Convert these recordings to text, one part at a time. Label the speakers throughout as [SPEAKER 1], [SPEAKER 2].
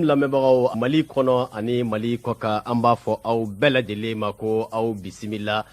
[SPEAKER 1] lamɛnbagaw mali kɔnɔ ani mali kɔkan an b'a fɔ aw bɛɛ lajɛlen ma ko aw bisimila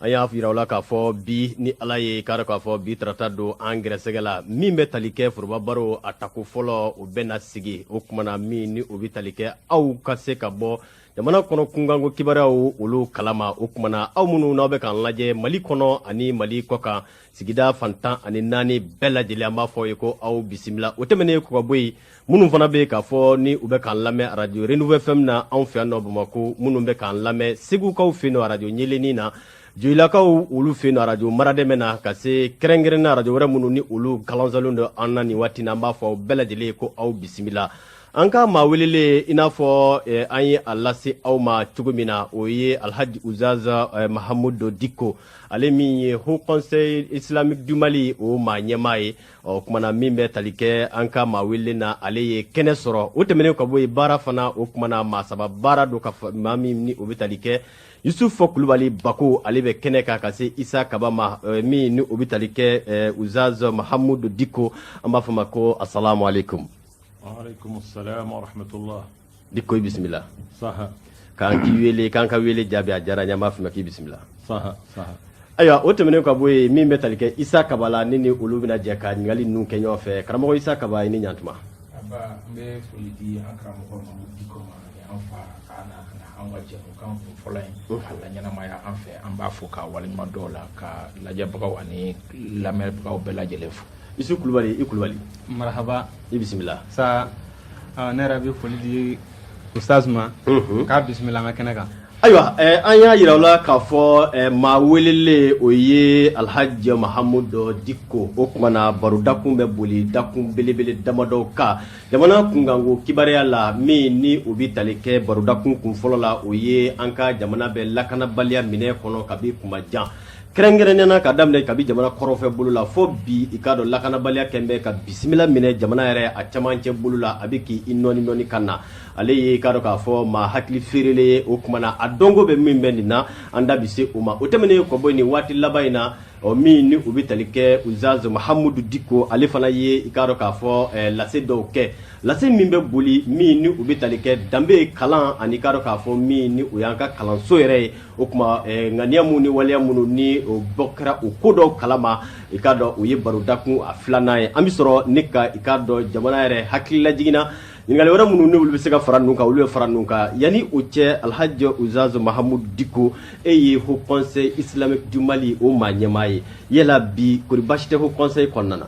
[SPEAKER 1] an y'a yira aw la k'a fɔ bi ni ala ye k'a dɔn k'a fɔ bi tarata don an gɛrɛsɛgɛ la min bɛ tali kɛ foroba baro a tako fɔlɔ o bɛ na sigi o tuma na min ni o bɛ tali kɛ aw ka se ka bɔ jamana kɔnɔ kunkanko kibaruyaw olu kalama o tuma na aw minnu n'aw bɛ k'an lajɛ mali kɔnɔ ani mali kɔkan sigida fan tan ani naani bɛɛ lajɛlen an b'a f'aw ye ko aw bisimila o tɛmɛnen kɔ ka bɔ yen minnu fana bɛ k'a fɔ ni u bɛ k'an lamɛn arajo renouveau fm na anw fɛ yan nɔ bamakɔ minnu bɛ k'an lamɛn segukaw fɛ yen arajo ɲeleni na joyilakaw olu fɛ yen arajo maradɛmɛ na ka se kɛrɛnkɛrɛnna arajo wɛrɛ minnu ni olu kalanzalen don an na nin waati in na an b'a fɔ aw bɛɛ lajɛlen ye ko aw bisimila an ka maa welelen i n'a fɔ eh, an ye a lase aw ma cogo min na o ye alhaji ustaz eh, mahamudu diko ale min ye haut conseil islamique du mali o maa ɲɛmaa ye o tuma na min bɛ tali kɛ an ka maa welelen na ale ye kɛnɛ sɔrɔ o tɛmɛnen ka bɔ yen baara fana o tuma na maa saba baara don ka maa min ni o bɛ tali kɛ yusufu kulubali bako ale bɛ kɛnɛ kan ka se isa kaba ma min ni o bɛ tali kɛ ustaz mahamudu diko an b'a f'i ma ko asalamu ale
[SPEAKER 2] diko bisimila k'an k'i
[SPEAKER 1] wele k'an ka wele jaabi a diyara n ye an b'a f'i ma k'i
[SPEAKER 2] bisimila ayiwa
[SPEAKER 1] o tɛmɛnen ka bɔ yen min bɛ tali kɛ isa kaba la ne ni olu bɛna jɛ ka ɲininkali ninnu kɛ ɲɔgɔn fɛ karamɔgɔ isa kaba i ni ɲantuma n bɛ
[SPEAKER 3] foli di an karamɔgɔ mamudu diko ma an fa k'a na ka na an ka jɛmukan kun fɔlɔ in k'a laɲɛnamaya an fɛ an b'a fo ka waleɲuman dɔn a la ka lajɛbagaw ani lamɛnbagaw bɛɛ lajɛlen fo isu kulubali i
[SPEAKER 1] kulubali marahaba i
[SPEAKER 4] bisimila
[SPEAKER 1] sa
[SPEAKER 4] ne yɛrɛ bɛ foli di ustaz ma k'a bisimila an ka kɛnɛ kan ayiwa an
[SPEAKER 1] y'a yira aw la k'a fɔ maa welelen o ye alhaji mahamudu diko o tuma na barodakun bɛ boli dakun belebele damadɔ kan jamana kunkanko kibaruya la min ni o bɛ tali kɛ barodakun kun fɔlɔ la o ye an ka jamana bɛ lakanabaliya min kɔnɔ kabi kuma jan kɛrɛnkɛrɛnnena ka daminɛ kabi jamana kɔrɔn fɛ bolo la fo bi i k'a dɔn lakanabaliya kɛn bɛ ka bisimila minɛ jamana yɛrɛ a camancɛ bolo la a bɛ k'i nɔɔni nɔɔni ka na ale ye i k'a dɔn k'a fɔ maa hakili feerele ye o tuma na a dɔnko bɛ min bɛ nin na an da bɛ se o ma o tɛmɛnen kɔ bɔ nin waati laban in na ɔ min ni u bɛ tali kɛ ustaz mahamudu diko ale fana ye i k'a dɔn k'a fɔ eh, lase dɔw kɛ lase min bɛ boli min ni u bɛ tali kɛ danbe kalan ani i k'a dɔn k'a fɔ min ni o y'an ka kalanso yɛrɛ ye o tuma eh, ŋaniya minnu ni waleya minnu ni o bɔ kɛra o ko dɔw kalama i k'a dɔn o ye barodakun a filanan ye an bɛ sɔrɔ ne ka i k'a dɔn jamana yɛrɛ hakili lajigin na ɲininkali wɛrɛ minnu n'olu bɛ se ka fara ninnu kan olu bɛ fara ninnu kan yanni o cɛ alhaji ustaz mahamudu diko e ye haut conseil islamique du mali o maa ɲɛmaa ye yala bi kori baasi tɛ haut conseil kɔnɔna na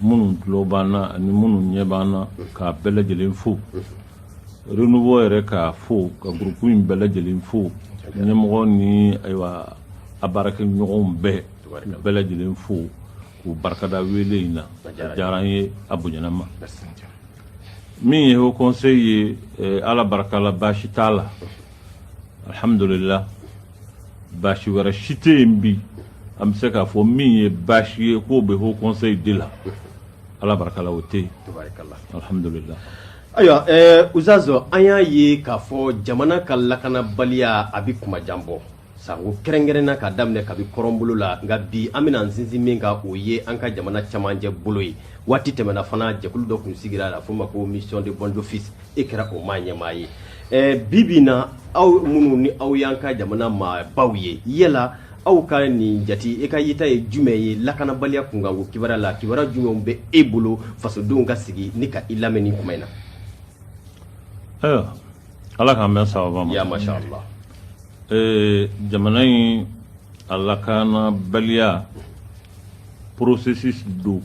[SPEAKER 2] minnu tulo b'an na ani minnu ɲɛ b'an na k'a bɛɛ lajɛlen fo renouveau yɛrɛ k'a fo ka gurupu in bɛɛ lajɛlen fo ɲɛmɔgɔ ni ayiwa a baarakɛɲɔgɔnw bɛɛ bɛɛ lajɛlen fo k'u barika da wele in na a diyara an ye a bonyana ma min ye haut conseil ye eh, ala barika la baasi t'a la alhamdulillah Baasi wɛrɛ si tɛ yen bi an bɛ se k'a fɔ min ye baasi ye k'o bɛ haut conseil de la ala barika la o tɛ yen alhamdulillah ayiwa
[SPEAKER 1] ustazu an y'a ye k'a fɔ jamana ka lakanabaliya a bɛ kuma jan bɔ sanko kɛrɛnkɛrɛnna ka daminɛ kabi kɔrɔn bolo la nka bi an bɛna sinsin min kan o ye an ka jamana camancɛ bolo ye waati tɛmɛna fana jɛkulu dɔ kun sigira la f'o ma ko mission de bons offices e kɛra o maa ɲɛmaa ye ɛɛ bi bi na aw minnu ni aw y'an ka jamana maabaw ye yala aw ka nin jati e ka yeta ye jumɛn ye lakanabaliya kunkanko kibaruya la kibaruya jumɛnw bɛ e bolo fasodenw ka sigi ni ka i lamɛn nin kuma in na
[SPEAKER 2] ayiwa ala k'an bɛn sababa ma ya masha allah Ee jamana in a lakanabaliya processus don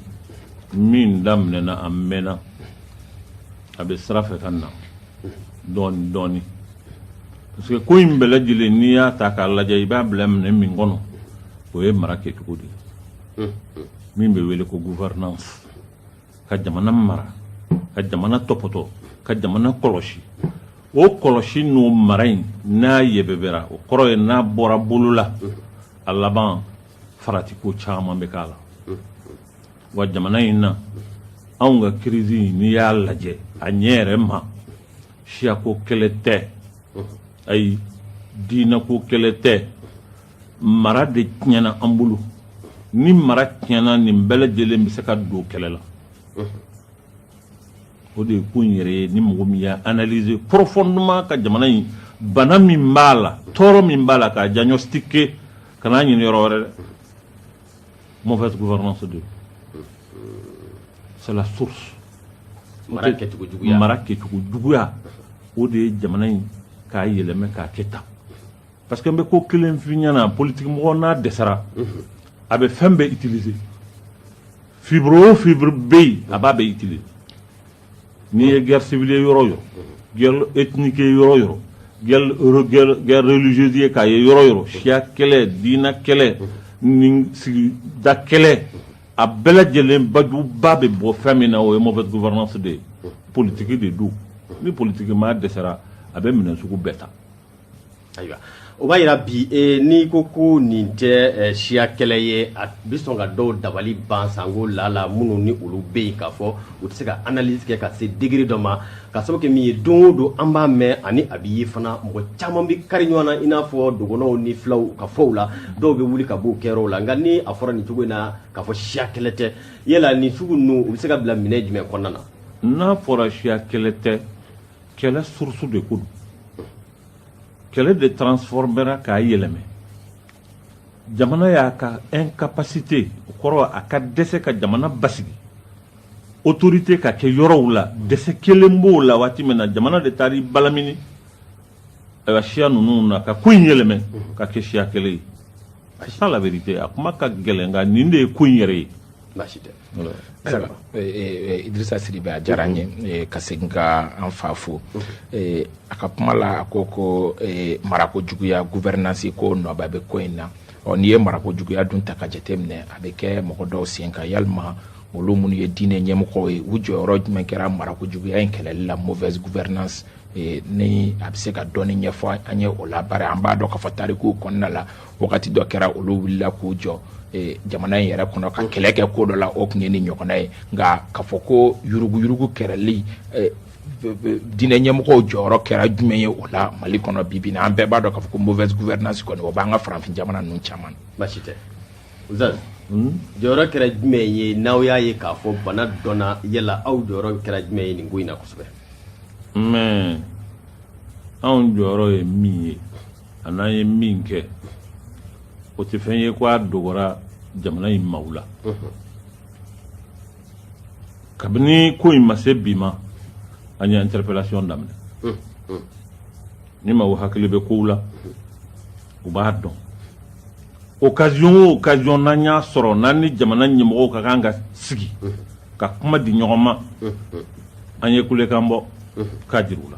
[SPEAKER 2] min daminɛna a mɛnna a bɛ sira fɛ ka na dɔɔni dɔɔni parce que ko in bɛɛ lajɛlen n'i y'a ta k'a lajɛ i b'a bila minɛ min kɔnɔ o ye mara kɛcogo de ye min bɛ wele ko gouvernance ka jamana mara ka jamana tɔpɔtɔ ka jamana kɔlɔsi o kɔlɔsi n'o mara in n'a yɛbɛbɛra o kɔrɔ ye n'a bɔra bolo la a laban faratiko caman bɛ k'a la wa jamana in na anw ka kirisi n'i y'a lajɛ a ɲɛ yɛrɛ ma siyako kɛlɛ tɛ ayi diinako kɛlɛ tɛ mara de tiɲɛna an bolo ni mara tiɲɛna nin bɛɛ lajɛlen bɛ se ka don kɛlɛ la o de ye ko in yɛrɛ ye ni mɔgɔ min y'a analyser profondément ka jamana in bana min b'a la tɔɔrɔ min b'a la k'a diagnostiquer kan'a ɲini yɔrɔ wɛrɛ dɛ mauvaise gouvernance de c'est la source mara
[SPEAKER 1] kɛcogo juguya mara kɛcogo juguya
[SPEAKER 2] o de ye jamana in k'a yɛlɛmɛ k'a kɛ tan Parce que n bɛ ko kelen f'i ɲɛna politique mɔgɔ n'a dɛsɛra a bɛ fɛn bɛɛ utiliser fibre o fibre bɛ yen a b'a bɛɛ utiliser n'i ye guerre civile ye yɔrɔ o yɔrɔ guerre ethnique ye yɔrɔ o yɔrɔ guerre re- guerre guerre religieuse ye k'a ye yɔrɔ o yɔrɔ siya kɛlɛ diinɛ kɛlɛ ni sigida kɛlɛ a bɛɛ lajɛlen bajuba bɛ bɔ fɛn min na o ye mauvaise gouvernance de ye politique de don ni politique maa dɛsɛra a bɛ minɛ sugu bɛɛ ta
[SPEAKER 1] ayiwa o b'a yira bi e, n'i ko ko nin tɛ e, siya kɛlɛ ye a bɛ sɔn ka dɔw dabali ban sanko lala minnu ni olu bɛ yen k'a fɔ u tɛ se ka analyse kɛ ka se degré dɔ ma k'a sababu kɛ min ye don o don an b'a mɛn ani a bɛ ye fana mɔgɔ caman bɛ kari ɲɔgɔn na i n'a fɔ dɔgɔnɔw ni filaw ka fɔw la dɔw bɛ wuli ka b'o kɛ yɔrɔw la nka ni a fɔra nin cogo in na k'a fɔ siya kɛlɛ tɛ yala nin sugu ninnu u bɛ se ka bila minɛ jumɛn kɔnɔna na n'a fɔra
[SPEAKER 2] siya kɛlɛ tɛ kɛlɛ source de ko don kɛlɛ de transformera k'a yɛlɛmɛ jamana y'a ka incapacité o kɔrɔ a ka dɛsɛ ka jamana basigi autorité ka kɛ yɔrɔw la dɛsɛ kɛlen b'o la waati min na jamana de taara i balamini ayiwa siya ninnu na ka ko in yɛlɛmɛ ka kɛ siya kɛlɛ ye c'est ça la vérité a kuma ka gɛlɛn nka nin de ye ko in yɛrɛ ye
[SPEAKER 3] Idrissa Sidibe a diyara n ye ka segin ka an fa fo a ka kuma la a ko ko marako juguya gouvernance ko nɔba bɛ ko in na ɔ n'i ye marako juguya dun ta k'a jateminɛ a bɛ kɛ mɔgɔ dɔw sen kan yalima olu minnu ye diinɛ ɲɛmɔgɔw ye u jɔyɔrɔ jumɛn kɛra marako juguya in kɛlɛli la mauvaise gouvernance ni a bɛ se ka dɔɔni ɲɛfɔ an ye o la bari an b'a dɔn k'a fɔ tarikuw kɔnɔna la wagati dɔ kɛra olu wulila k'u jɔ e, jamana in yɛrɛ kɔnɔ ka kɛlɛ kɛ ko dɔ la o tun ye nin ɲɔgɔnna ye nka k'a fɔ ko yuruguyurugu kɛlɛli e, diinɛ ɲɛmɔgɔw jɔyɔrɔ kɛra jumɛn ye o la mali kɔnɔ bibi na an bɛɛ b'a dɔn k'a fɔ ko mauvaise gouvernance kɔni o b'an ka farafin jamana ninnu caman baasi
[SPEAKER 1] tɛ zan hmm? jɔyɔrɔ kɛra jumɛn ye n'aw y'a ye k'a fɔ bana donna yala aw jɔyɔrɔ kɛra jumɛn ye nin ko in na kosɛbɛ
[SPEAKER 2] mais anw jɔyɔrɔ ye min ye a n'an ye min kɛ o tɛ fɛn ye ko a dogora jamana in maaw la kabini ko in ma se bi ma an ye interpellation daminɛ ni maaw hakili bɛ kow la u b'a dɔn occasion o occasion n'an y'a sɔrɔ n'an ni jamana ɲɛmɔgɔw ka kan ka sigi ka kuma di ɲɔgɔn ma an ye kulekan bɔ k'a jira u la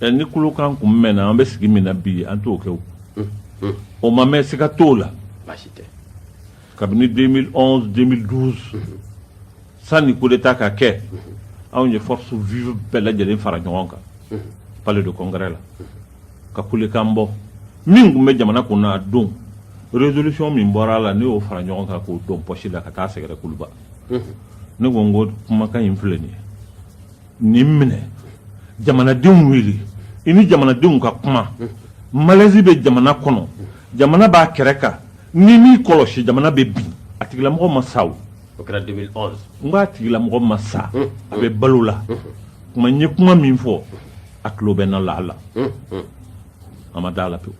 [SPEAKER 1] ni kulekan
[SPEAKER 2] kun mɛnna an bɛ sigi min na bi an t'o kɛ o ma mɛn siga t'o
[SPEAKER 1] la kabini 2011
[SPEAKER 2] 2012 sanni coup d'état ka kɛ anw ye force vive bɛɛ lajɛlen fara ɲɔgɔn kan palais de congrès la ka kulekan bɔ min tun bɛ jamana kun na a don résolution min bɔra a la ne y'o fara ɲɔgɔn kan k'o don poche la ka taa sɛgɛrɛ kuluba ne ko n ko kumakan in filɛ nin ye nin minɛ jamanadenw wele i ni jamanadenw ka kuma malaise bɛ jamana kɔnɔ jamana b'a kɛrɛ kan n'i m'i kɔlɔsi jamana bɛ bin a tigilamɔgɔ ma sa o o kɛra 2011
[SPEAKER 1] n ko a tigilamɔgɔ
[SPEAKER 2] ma sa a bɛ balo la kuma n ye kuma min fɔ a tulo bɛ n na laala a ma da a la pewu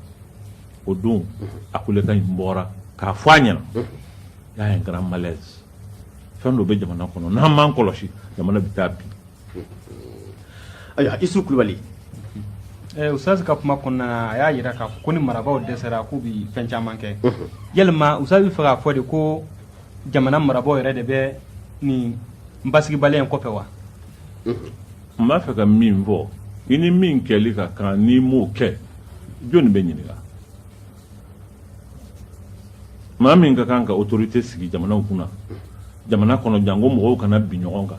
[SPEAKER 2] o don a kulekan in bɔra k'a fɔ a ɲɛ na y a un grand malaise fɛn dɔ bɛ jamana kɔnɔ n'an m'an kɔlɔsi jamana bɛ taa
[SPEAKER 1] bin ayiwa isu kulubali eh,
[SPEAKER 4] ustazi ka kuma kɔnɔna na a y'a yira k'a fɔ ko ni marabaaw dɛsɛra k'u bi fɛn caman kɛ yalima ustazi bɛ fɛ k'a fɔ de ko jamana marabaaw yɛrɛ de bɛ nin basigibaliya in kɔfɛ
[SPEAKER 2] wa n b'a fɛ ka min fɔ i ni min kɛli ka kan n'i m'o kɛ jɔni bɛ ɲininka maa min ka kan ka autorité sigi jamanaw kunna jamana kɔnɔ janko mɔgɔw kana bin ɲɔgɔn kan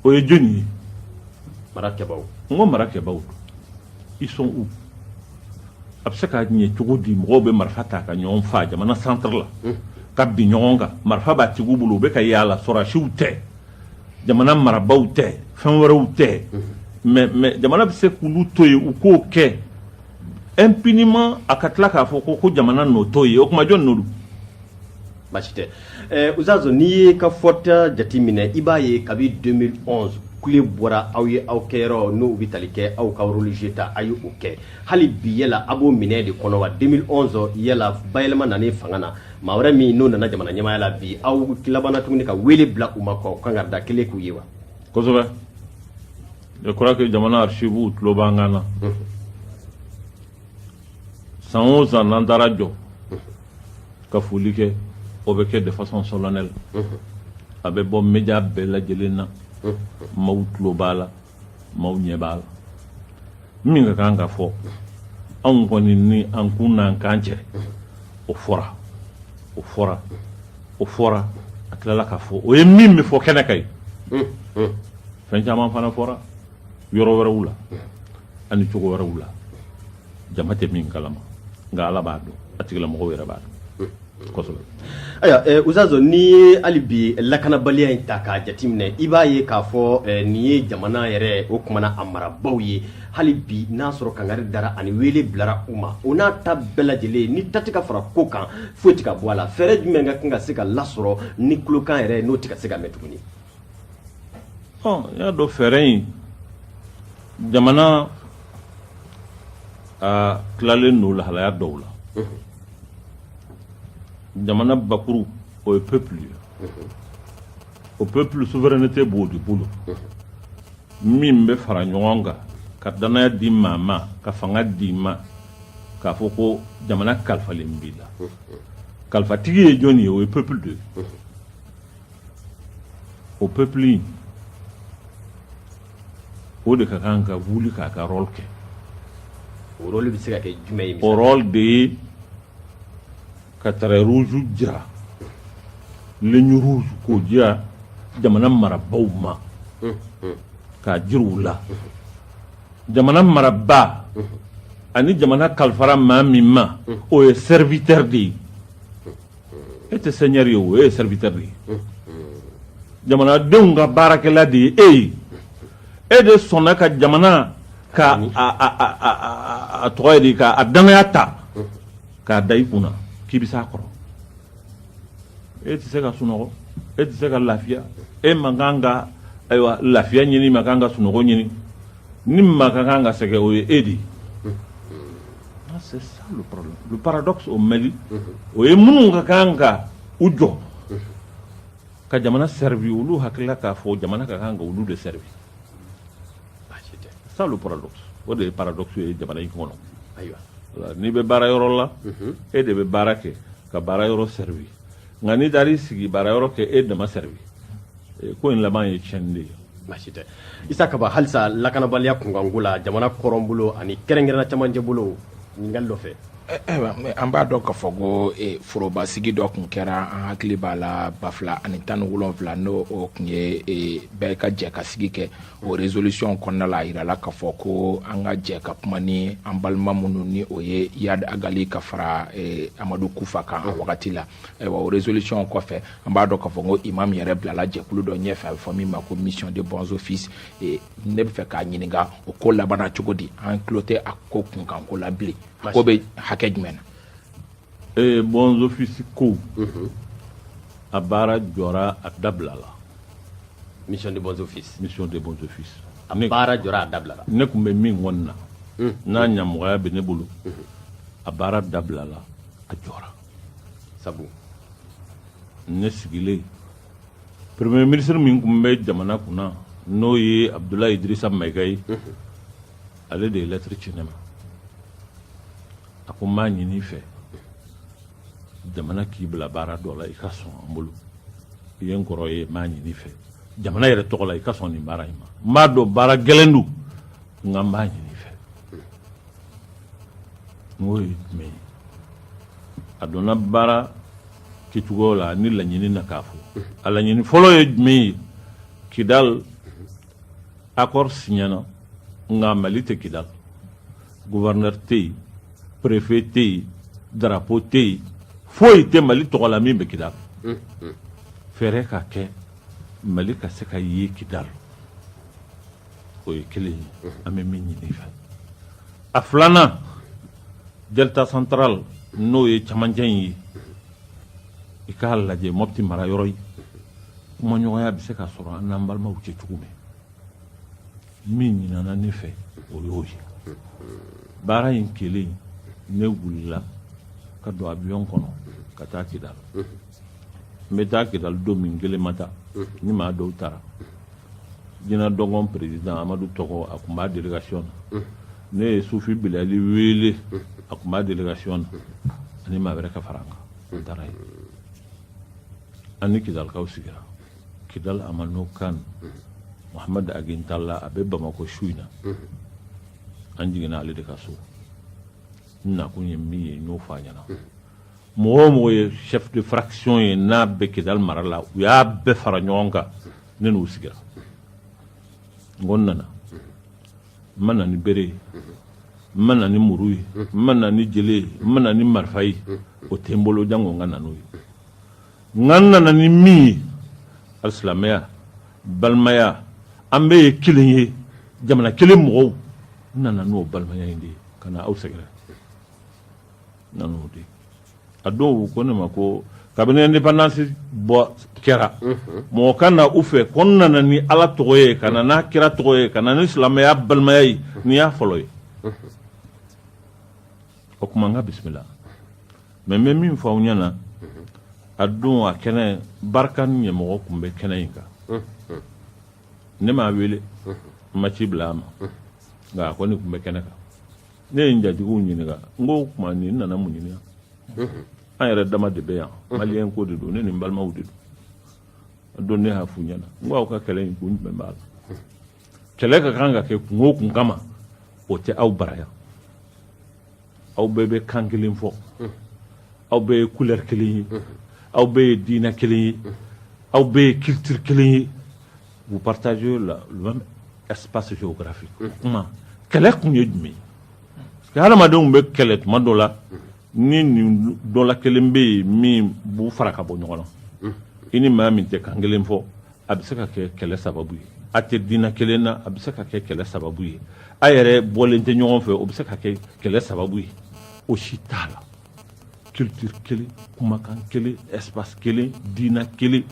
[SPEAKER 2] o ye jɔni ye marakɛbaaw
[SPEAKER 1] n ko
[SPEAKER 2] marakɛbaaw ils sont où a bɛ se ka ɲɛ cogo di mɔgɔw bɛ marifa ta ka ɲɔgɔn faa jamana centre la ka bin ɲɔgɔn kan marifa b'a tigiw bolo u bɛ ka yaala sɔrɔsiw tɛ jamana marabaaw tɛ fɛn wɛrɛw tɛ mais mais jamana bɛ se k'olu to yen u k'o kɛ impunément a ka tila k'a fɔ ko ko jamana nɔ t'o ye o kuma jɔn
[SPEAKER 1] nɔ basi tɛ ustazu n'i y'i ka fɔta jateminɛ i b'a ye kabi 2011 kule bɔra aw ye aw kɛ yɔrɔ n'o bɛ tali kɛ aw ka religieux ta a ye o kɛ hali bi yala a b'o minɛ de kɔnɔ wa 2011 yala bayɛlɛma nanen fanga na maa wɛrɛ min n'o nana jamana ɲɛmaaya la bi aw labanna tuguni ka wele bila u ma ka kangari da kelen k'u ye wa
[SPEAKER 2] je crois que jamana archives tulo b'an kan na san o san n'an taara jɔ ka foli kɛ o bɛ kɛ de façon solennelle a bɛ bɔ média bɛɛ lajɛlen na maaw tulo b'a la maaw ɲɛ b'a la min ka kan ka fɔ anw kɔni ni an kun n'an kan cɛ o fɔra o fɔra o fɔra a tilala k'a fɔ o ye min bɛ fɔ kɛnɛ kan ye fɛn caman fana fɔra yɔrɔ wɛrɛw la ani cogo wɛrɛw la jama tɛ min kalama nka ala b'a dɔn a tigilamɔgɔw yɛrɛ b'a dɔn kosɛbɛ ayiwa eh,
[SPEAKER 1] ustazu n'i ye hali bi lakanabaliya in ta k'a jateminɛ i b'a ye k'a fɔ eh, nin ye jamana yɛrɛ o kuma na a marabaaw ye hali bi n'a sɔrɔ kangari dara ani wele bilara u ma o n'a ta bɛɛ lajɛlen ni ta tɛ ka fara ko kan foyi tɛ ka bɔ a la fɛɛrɛ jumɛn ka kan ka se ka lasɔrɔ ni kulokan yɛrɛ n'o tɛ ka se ka mɛn tuguni
[SPEAKER 2] Ɔ n y'a dɔn fɛɛrɛ in jamana a tilalen don lahalaya dɔw la jamana bakuru o ye peuple ye o peuple souveraineté b'o de bolo min bɛ fara ɲɔgɔn kan ka danaya di maa ma ka fanga di ma k'a fɔ ko jamana kalifalen b'i la kalifatigi ye jɔni ye o ye peuple de ye o peuple o de ka kan ka wuli k'a ka rôle kɛ o
[SPEAKER 1] rôle bɛ se ka kɛ jumɛn ye o rôle de ye
[SPEAKER 2] ka trait rouge jira ligne rouge k'o jira jamana marabaaw ma k'a jira u la jamana marabaa ani jamana kalifara maa min ma o ye serviteur de ye e tɛ seigneur ye o e ye serviteur de ye jamanadenw ka baarakɛla de ye e ye e de sɔnna ka jamana ka a tɔgɔ ye de ka a danaya ta k'a da i kun na k'i bɛ s'a kɔrɔ e tɛ se ka sunɔgɔ e tɛ se ka lafiya e man kan ka ayiwa lafiya ɲini man kan ka sunɔgɔ ɲini ni maa ka kan ka sɛgɛn o ye e de ye Ah, c'est ça le problème le paradoxe au Mali o ye minnu ka kan ka u jɔ ka jamana servi olu hakilila k'a fɔ jamana ka kan ka olu de servi baasi tɛ c'est ça le paradoxe o de ye paradoxe ye jamana in kɔnɔ ayiwa Voilà,
[SPEAKER 1] n'i bɛ baara
[SPEAKER 2] yɔrɔ la e de bɛ baara kɛ ka baara yɔrɔ servi nka n'i taara i sigi baara yɔrɔ kɛ e dama servi ko in laban ye tiɲɛni de ye baasi tɛ
[SPEAKER 1] isa kaba halisa lakanabaliya kunkanko la jamana kɔrɔn bolo ani kɛrɛnkɛrɛnna camancɛ bolo ɲininkali dɔ fɛ eh, eh, an
[SPEAKER 3] b'a dɔn k'a fɔ ko eh, forobasigi dɔ tun kɛra an hakili b'a la ba fila ani tan ni wolonwula n'o tun ye bɛɛ ka jɛ ka sigi kɛ o résolution kɔnɔna la a yirala k'a fɔ ko an ka jɛ ka kuma ni an balima minnu ni o ye Iyad Ag Ghali ka fara eh, amadu kufa kan a wagati la ayiwa o résolution kɔfɛ an b'a dɔn k'a fɔ ko imam yɛrɛ bilala jɛkulu dɔ ɲɛfɛ a bɛ fɔ min ma ko mission de bons offices eh, ne bɛ fɛ k'a ɲininka o ko labanna cogo di an tulo tɛ a ko kunkanko la bilen a ko bɛ hakɛ jumɛn na Ee bons
[SPEAKER 2] offices ko a baara jɔra a dabilala
[SPEAKER 1] mission de bons offices mission de bons
[SPEAKER 2] offices a baara jɔra
[SPEAKER 1] a dabilala ne tun bɛ min kunna
[SPEAKER 2] n'a ɲamɔgɔya bɛ ne bolo a baara dabilala a jɔra sabu ne sigilen premier ministre min tun bɛ jamana kunna n'o ye abudulayi idirisa mayiga ye ale de ye lɛtiri ci ne ma a ko n b'a ɲini i fɛ jamana k'i bila baara dɔ la i ka sɔn an bolo i ye n kɔrɔ ye n b'a ɲini i fɛ jamana yɛrɛ tɔgɔ la i ka sɔn nin baara in ma n b'a dɔn baara gɛlɛn don nka n b'a ɲini i fɛ n k'o ye jumɛn ye a donna baara kɛcogo la ni laɲini na k'a fɔ a laɲini fɔlɔ ye jumɛn ye kidali accord siɲɛna nka mali tɛ kidali gouverneur tɛ yen préfet tɛ yen drapeau tɛ yen foyi tɛ mali tɔgɔ la min bɛ kidali fɛɛrɛ ka kɛ mali ka se ka ye kidali o ye kelen ye an bɛ min ɲini i fɛ a filanan delta central n'o ye camancɛ in ye i k'a lajɛ mɔpti mara yɔrɔ ye kumaɲɔgɔnya bɛ se ka sɔrɔ an n'an balimaw cɛ cogo min min ɲinina ne fɛ o y'o ye baara in kelen ne wulila ka don avion kɔnɔ ka taa kidal n bɛ taa kidal don min n kelen ma taa n ni maa dɔw taara gina dɔgɔn président amadu togo a tun b'a délégation na ne ye sufi bilali wele a tun b'a délégation na ani maa wɛrɛ ka fara an kan n taara yen an ni kidalikaw sigira kidal amenokal muhamadu ag intala a bɛ bamakɔ su in na an jiginna ale de ka so n nakun ye min ye n y'o fɔ a ɲɛna mɔgɔ o mɔgɔ ye chef de fraction ye n'a bɛ kidal mara la u y'a bɛɛ fara ɲɔgɔn kan ne n'u sigira n ko n nana n ma na ni bere ye n ma na ni muru ye n ma na ni jele ye n ma na ni marifa ye o tɛ n bolo jango n ka na n'o ye Nka n nana ni min ye alisilamɛya balimaya an bɛɛ ye kelen ye jamana kelen mɔgɔw n nana n'o balimaya in de ye ka na aw sɛgɛrɛ nan'o de a dɔw ko ne ma ko kabini indépendance bɔ kɛra mɔgɔ ka na u fɛ ko n nana ni ala tɔgɔ ye ka na n'a kira tɔgɔ ye ka na ni silamɛya balimaya ye nin y'a fɔlɔ ye o tuma n ka bisimila mais n bɛ min fɔ aw ɲɛna a don a kɛnɛ barkhane ɲɛmɔgɔ tun bɛ kɛnɛ in kan ne m'a wele n ma ci bila a ma nka a kɔni tun bɛ kɛnɛ kan ne ye n jatigiw ɲininka n ko o tuma nin nana mun ɲini yan an yɛrɛ dama de bɛ yan maliyɛn ko de don ne ni n balimaw de don a don ne y'a f'u ɲɛna n ko aw ka kɛlɛ in kun jumɛn b'a la kɛlɛ ka kan ka kɛ kun o kun kama o tɛ aw bara yan aw bɛɛ bɛ kan kelen fɔ aw bɛɛ ye couleur kelen ye aw bɛɛ ye diinɛ kelen ye aw bɛɛ ye culture kelen ye vous partagez la le même espace géographique o kuma kɛlɛ kun ye jumɛn ye hadamadenw bɛ kɛlɛ tuma dɔ la ni nin dɔ la kelen bɛ yen min b'u fara ka bɔ ɲɔgɔn na i ni maa min tɛ kan kelen fɔ a bɛ se ka kɛ kɛlɛ sababu ye a tɛ diinɛ kelen na a bɛ se ka kɛ kɛlɛ sababu ye a yɛrɛ bɔlen tɛ ɲɔgɔn fɛ o bɛ se ka kɛ kɛlɛ sababu ye o si t'a la culture kelen kumakan kelen espace kelen diinɛ kelen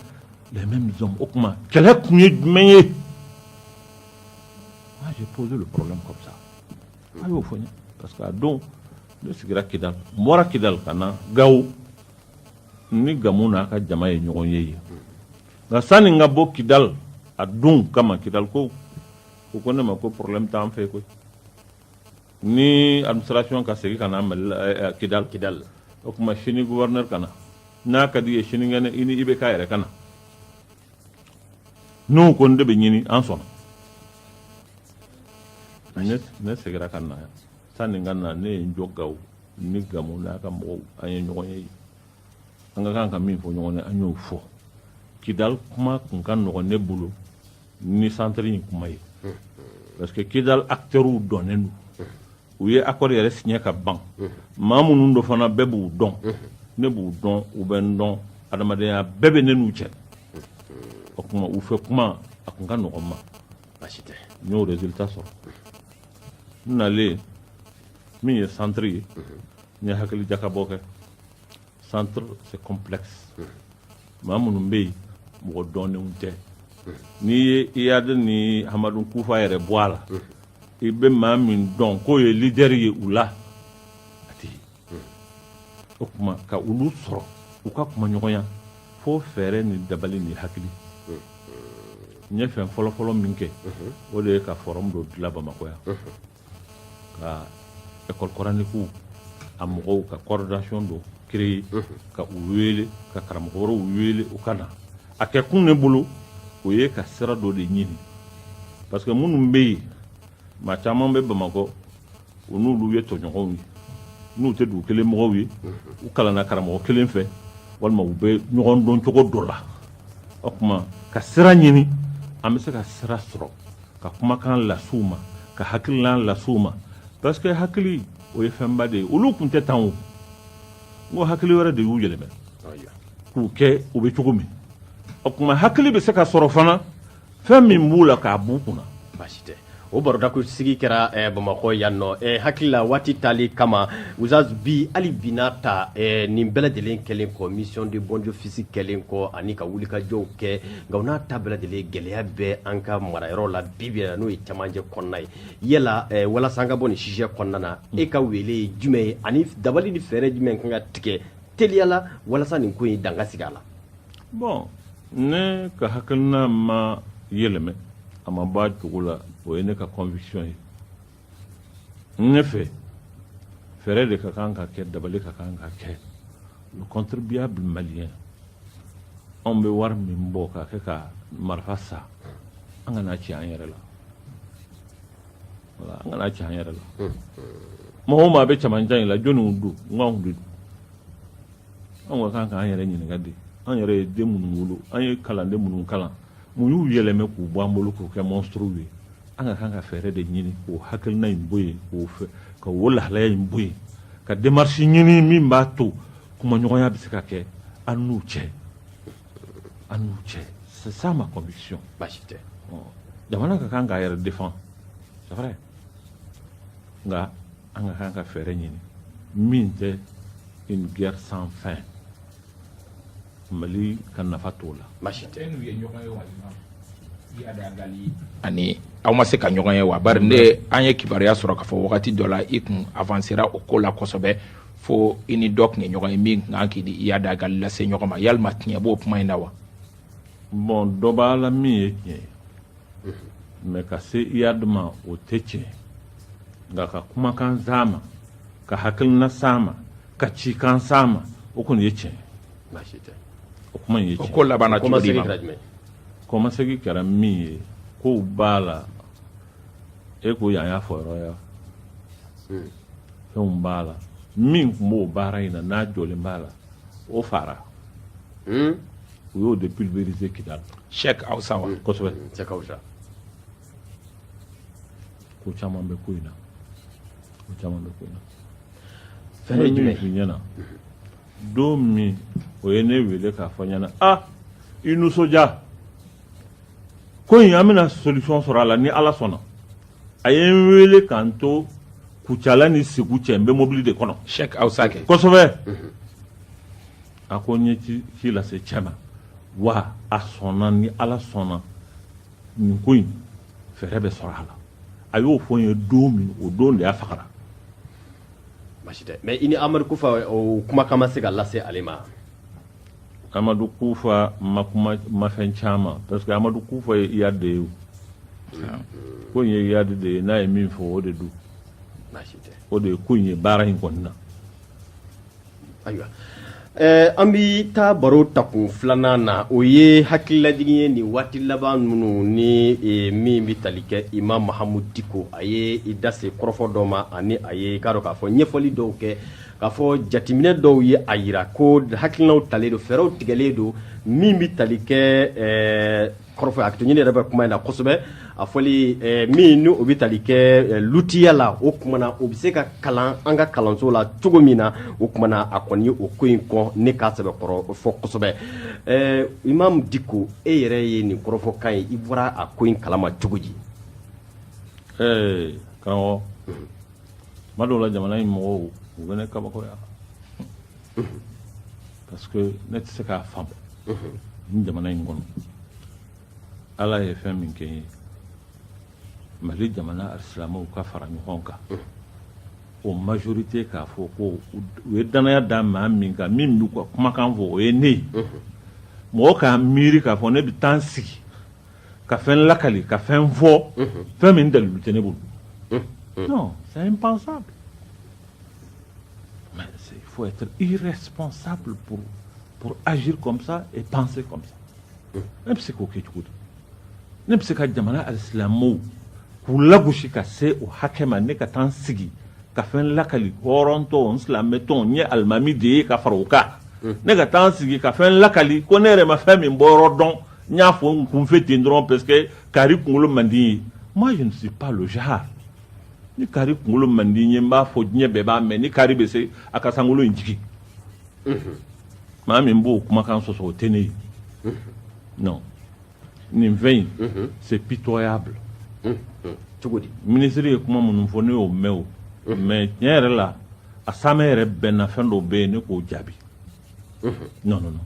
[SPEAKER 2] les mêmes hommes o tuma kɛlɛ kun ye jumɛn ye moi j'ai posé le problème comme ça a y'o fɔ n ye parce que a don ne sigira kidal n bɔra kidal ka na gawo ni gamu n'a ka jama ye ɲɔgɔn ye yen nka sani n ka bɔ kidali a don kama kidalikaw ko ne ma ko problème t'an fɛ koyi ni administration ka segin ka na mali la eh, eh, kidali kidali o tuma sini gouverneur ka na n'a ka di ye sinikɛnɛ i ni ibk yɛrɛ ka na n'u ko n de bɛ ɲini an sɔnna ne ne segira ka na yan sani n ka na ne ye n jɔ gawo ni gamu n'a ka mɔgɔw an ye ɲɔgɔn ye yen an ka kan ka min fɔ ɲɔgɔn ye an y'o fɔ kidal kuma kun ka nɔgɔn ne bolo ni centre in kuma ye parce que kidal acteurs dɔnnen don u ye accord yɛrɛ signé ka ban maa minnu don fana bɛɛ b'u dɔn ne b'u dɔn u bɛ n dɔn adamadenya bɛɛ bɛ ne n'u cɛ o kuma u fɛ kuma a kun ka nɔgɔn ma baasi tɛ
[SPEAKER 1] n y'o résultat sɔrɔ
[SPEAKER 2] n nalen min ye centre ye n ye hakili jakabɔ kɛ centre c'est complexe maa minnu bɛ yen mɔgɔ dɔnnenw tɛ n'i ye iyad ni hamadu kufa yɛrɛ bɔ a la i bɛ maa min dɔn k'o ye leader ye u la a tɛ yen o tuma ka olu sɔrɔ u ka kumaɲɔgɔnya fo fɛɛrɛ ni dabali ni hakili n ye fɛn fɔlɔfɔlɔ min kɛ o de ye ka forum dɔ dilan bamakɔ yan ka école coranique a mɔgɔw ka coordination dɔ créer ka u wele ka karamɔgɔ wɛrɛw wele u ka na a kɛ kun ne bolo o ye ka sira dɔ de ɲini parce que minnu bɛ yen maa caman bɛ bamakɔ u n'olu ye tɔɲɔgɔnw ye n'u tɛ dugu kelen mɔgɔw ye u kalanna karamɔgɔ kelen fɛ walima u bɛ ɲɔgɔn dɔn cogo dɔ la o tuma ka sira ɲini an bɛ se ka sira sɔrɔ ka kumakan las'u ma ka hakililan las'u ma parce que hakili o ye fɛnba de ye olu tun tɛ tan o n ko hakili wɛrɛ de y'u yɛlɛmɛ k'u kɛ u bɛ cogo min o tuma hakili bɛ se ka sɔrɔ fana fɛn min b'u la k'a b'u kunna baasi tɛ
[SPEAKER 1] o baroda ko sigi kɛra eh, bamakɔ yan nɔ eh, hakili la waati tali kama Oustaz bi hali bi n'a ta eh, nin bɛɛ lajɛlen kɛlen kɔ mission de bons offices kɛlen kɔ ani ka wulikajɔw kɛ nka o n'a ta bɛɛ lajɛlen gɛlɛya bɛ an ka marayɔrɔw la bi bi in na n'o ye cɛmancɛ kɔnɔna ye yala walasa an ka bɔ nin sujet kɔnɔna na e ka wele ye jumɛn ye ani dabali ni fɛɛrɛ jumɛn kan ka tigɛ teliya la walasa nin ko in dan ka sigi a la
[SPEAKER 2] bon ne ka hakilina ma yɛlɛmɛ a ma b'a cogo la o ye ne ka conviction ye ne fɛ fɛɛrɛ de ka kan ka kɛ dabali ka kan ka kɛ le contribuable malien anw bɛ wari min bɔ k'a kɛ ka marifa san an kan'a ci an yɛrɛ la voilà an kan'a ci an yɛrɛ la maa o maa bɛ cɛmancɛ in la jɔniw don n k'anw de don anw ka kan k'an yɛrɛ ɲininka de an yɛrɛ ye den minnu wolo an ye kalanden minnu kalan mun y'u yɛlɛmɛ k'u bɔ an bolo k'u kɛ monstrew ye an ka kan ka fɛɛrɛ de ɲini k'o hakilina in bɔ yen k'o fɛ ka o lahalaya in bɔ yen ka démarche ɲini min b'a to kumaɲɔgɔnya bɛ se ka kɛ an n'u cɛ an n'u cɛ c'est ça ma conviction baasi
[SPEAKER 1] tɛ jamana
[SPEAKER 2] ka kan k'a yɛrɛ défend c'est vrai nka an ka kan ka fɛɛrɛ ɲini min tɛ une guerre sans fin Mali ka nafa t'o la baasi
[SPEAKER 3] tɛ n'u ye ɲɔgɔn ye wa Iyad Ag Ghali ani aw ma se ka ɲɔgɔn ye wa bari ne an ye kibaruya sɔrɔ k'a fɔ wagati dɔ la i kun avansera o ko la kosɛbɛ fo i ni dɔ tun ye ɲɔgɔn ye min tun ka kan k'i ni Iyad Ag Ghali lase ɲɔgɔn ma yalima tiɲɛ b'o kuma in na wa bon
[SPEAKER 2] dɔ b'a la min ye tiɲɛ ye mais ka se Iyad ma o tɛ tiɲɛ nka ka kumakan s'a ma ka hakilina s'a ma ka cikan s'a ma o kɔni ye tiɲɛ baasi tɛ
[SPEAKER 1] o kuma in ye tiɲɛ
[SPEAKER 2] ko labanna cogo di ma kɔmasegi kɛra min ye kow b'a la e ko yan y'a fɔyɔrɔ ye wa hmm. fɛnw b'a la min tun b'o baara in na n'a jɔlen b'a la o faara hmm. u y'o de pulvériser Kidali Cheikh Awsa
[SPEAKER 3] wa kosɛbɛ Cheikh
[SPEAKER 2] Awsa ko caman bɛ ko in na ko caman bɛ ko in na
[SPEAKER 1] fɛn ye jumɛn f'i ɲɛna
[SPEAKER 2] don min o ye ne wele k'a fɔ n ɲɛna i nisɔndiya ko in an bɛna solution sɔrɔ a la ni ala sɔnna a ye n wele ka n to Kucala ni Segu cɛ n bɛ mobili de kɔnɔ Cheikh Awsa kɛ kosɛbɛ A ko n ye ci ci lase cɛ ma wa a sɔnna ni ala sɔnna nin ko in fɛɛrɛ bɛ sɔrɔ a la a y'o fɔ n ye don min o don de y'a fagara
[SPEAKER 1] basi tɛ mais i ni amadu kufa o kumakan ma se ka lase ale
[SPEAKER 2] ma amadu kufa ma kuma ma fɛn caman parce que amadu kufa ye iyad de ye o. ko in ye iyad de ye n'a ye min fɔ o de don basi tɛ
[SPEAKER 1] o de ye ko in ye baara
[SPEAKER 2] in kɔni na
[SPEAKER 1] Ayiwa an bɛ taa baro takun filanan na o ye hakililajigin ye nin waati laban ninnu ni min bɛ tali kɛ imam mahamudu diko a ye i da se kɔrɔfɔ dɔ ma ani a ye k'a dɔn k'a fɔ ɲɛfɔli dɔw kɛ k'a fɔ jateminɛ dɔw ye a jira ko hakilinaw talen don fɛɛrɛw tigɛlen don min bɛ tali kɛ kɔrɔfɔ a ne yɛrɛ bɛ kuma in na kosɛbɛ a fɔli eh, min ni o bɛ tali kɛ eh, lutiya la o kuma na o bɛ se ka kalan an ka kalanso la cogo min na o kuma na a kɔni o ko in kɔn ne k'a sɛbɛkɔrɔ fɔ kosɛbɛ eh, imam diko e yɛrɛ ye nin kɔrɔfɔkan ye i bɔra a ko in kalama cogo
[SPEAKER 2] di karamɔgɔ tuma dɔw la jamana in mɔgɔw u bɛ ne kabakoya parce que ne tɛ se k'a faamu ni jamana in kɔnɔ ala ye fɛn min kɛ n ye mali jamana alisilamɛw ka fara ɲɔgɔn kan o majorité k'a fɔ ko u ye danaya da maa min kan min b'u ka kumakan fɔ o ye ne ye mɔgɔ k'a miiri k'a fɔ ne bɛ taa n sigi ka fɛn lakali ka fɛn fɔ fɛn min dalilu tɛ ne bolo non c'est impensable Mais il faut être irresponsable pour, pour agir comme ça et penser comme ça. Ne bɛ se k'o kɛ cogo di ne bɛ se ka jamana alisilamɛw k'u lagosi ka se o hakɛ ma ne ka taa n sigi ka fɛn lakali hɔrɔntɔ n silamɛtɔ n ye alimami de ye ka fara o kan ne ka taa n sigi ka fɛn lakali ko ne yɛrɛ ma fɛn min bɔ yɔrɔ dɔn n y'a fɔ n kunfɛ ten dɔrɔn parce que kari kunkolo man di n ye moi je ne suis pas le genre ni kari kunkolo man di n ye n b'a fɔ diɲɛ bɛɛ b'a mɛn ni kari bɛ se a ka sankolo in jigin maa min b'o kumakan sɔsɔ o tɛ ne ye non nin fɛn in c'est
[SPEAKER 1] pitoyable cogo di minisiri ye kuma
[SPEAKER 2] minnu fɔ ne y'o mɛn o mais tiɲɛ yɛrɛ la a saamɛ yɛrɛ bɛ n na fɛn dɔw bɛ yen ne k'o jaabi non non non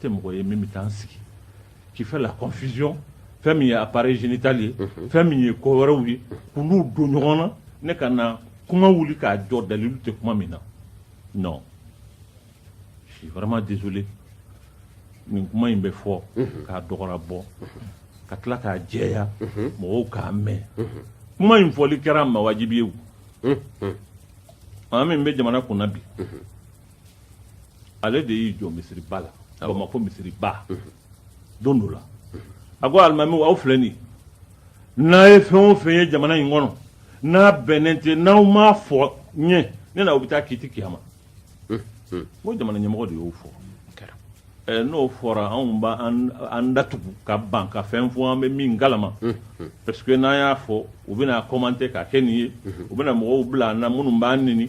[SPEAKER 2] tɛ mɔgɔ ye min bɛ taa n sigi qui fait la confusion fɛn min ye appareil génital ye fɛn min ye ko wɛrɛw ye k'olu don ɲɔgɔn na ne ka na kuma wuli k'a jɔ dalilu tɛ kuma min na non je suis vraiment désolé nin kuma in bɛ fɔ k'a dɔgɔra bɔ ka tila k'a jɛya mɔgɔw k'a mɛn kuma in fɔli kɛra ma wajibi ye maa min bɛ jamana kunna bi ale de y'i jɔ misiriba la Bamakɔ misiriba don dɔ la a ko alimamiw aw filɛ nin n'a ye fɛn o fɛn ye jamana in kɔnɔ n'a bɛnnen tɛ n'aw m'a fɔ n ye ne n'aw bɛ taa kiti kiyama n ko jamana ɲɛmɔgɔ de y'o fɔ ɛɛ n'o fɔra anw b'an datugu ka ban ka fɛn fɔ an bɛ min kalama parce que n'an y'a fɔ u bɛna commenter k'a kɛ nin ye u bɛna mɔgɔw bila an na minnu b'an nɛni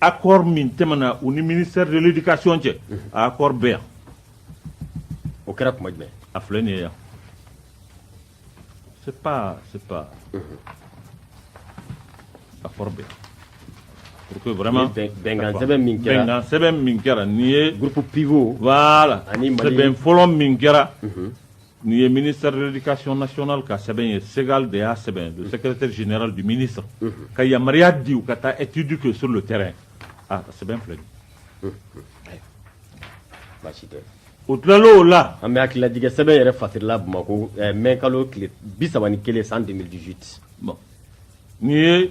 [SPEAKER 2] accord min tɛmɛna u ni ministère de l'éducation cɛ a accord bɛ yan
[SPEAKER 1] o kɛra kuma jumɛn a filɛ nin ye yan
[SPEAKER 2] c'est pas c'est pas accord bɛ yan pour que vraiment Ni bɛn- bɛnkan sɛbɛn min
[SPEAKER 1] kɛra- bɛnkan sɛbɛn min kɛra
[SPEAKER 2] nin ye groupe pivot
[SPEAKER 1] voilà Ani Mali-
[SPEAKER 2] sɛbɛn fɔlɔ
[SPEAKER 1] min kɛra
[SPEAKER 2] Nin ye minidikasi nasona ka sɛbɛn ye segali de y'a sɛbɛn don sɛgɛte zy di mini sɔrɔ ka yamaruya di u ka taa etudi kɛ so tɛ ka sɛbɛn filɛ baasi
[SPEAKER 1] u tilala o
[SPEAKER 2] la an bɛ hakililatigɛ sɛbɛn
[SPEAKER 1] yɛrɛ fala bamakɔ mɛ kalo tile bi3 ni kelen san dejiti
[SPEAKER 2] n'i ye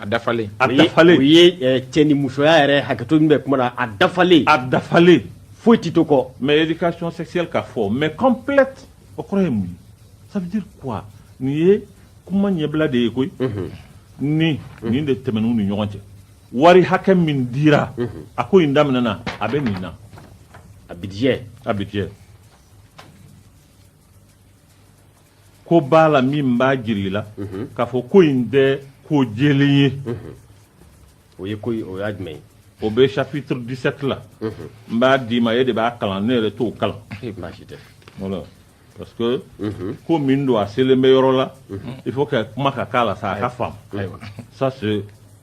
[SPEAKER 3] A dafalen a dafalen
[SPEAKER 2] o
[SPEAKER 1] ye
[SPEAKER 2] cɛ
[SPEAKER 1] ni musoya yɛrɛ hakɛto min bɛ kuma a dafalen a
[SPEAKER 2] dafalen foyi tɛ to kɔ
[SPEAKER 1] mais éducation
[SPEAKER 2] sexuelle ka fɔ mais complète o kɔrɔ ye mun ye ça veut dire quoi nin ye kuma ɲɛbila de ye koyi ni nin de tɛmɛna u ni ɲɔgɔn cɛ wari hakɛ min dira a ko in daminɛna a bɛ nin na
[SPEAKER 1] a budget
[SPEAKER 2] ko b'a la min b'a jira i la mhm. k'a fɔ ko in tɛ ko jɛlen ye mhm.
[SPEAKER 1] o ye ko o y'a jumɛn ye o bɛ chapitre
[SPEAKER 2] 17 la mhm. n b'a d'i ma e de b'a kalan ne yɛrɛ t'o kalan baasi tɛ
[SPEAKER 1] voilà
[SPEAKER 2] parce que ko min don a selen bɛ yɔrɔ la il faut que kuma ka k'a la sa a ka faamu ça c'est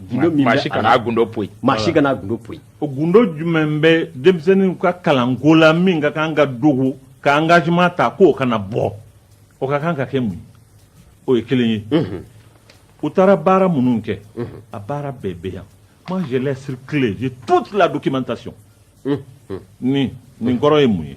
[SPEAKER 2] gundo min bɛ
[SPEAKER 1] a la gundo
[SPEAKER 3] poyi maa si kana gundo
[SPEAKER 1] poyi o gundo
[SPEAKER 2] jumɛn bɛ denmisɛnninw ka kalanko la min ka kan ka dogo ka engagement ta k'o kana bɔ o ka kan ka kɛ mun ye o ye kelen ye mhm. u taara baara minnu kɛ mhm. a baara bɛɛ bɛ yan moi je l'ai circulé j'ai toute la documentation mhm. nin nin kɔrɔ ye mun ye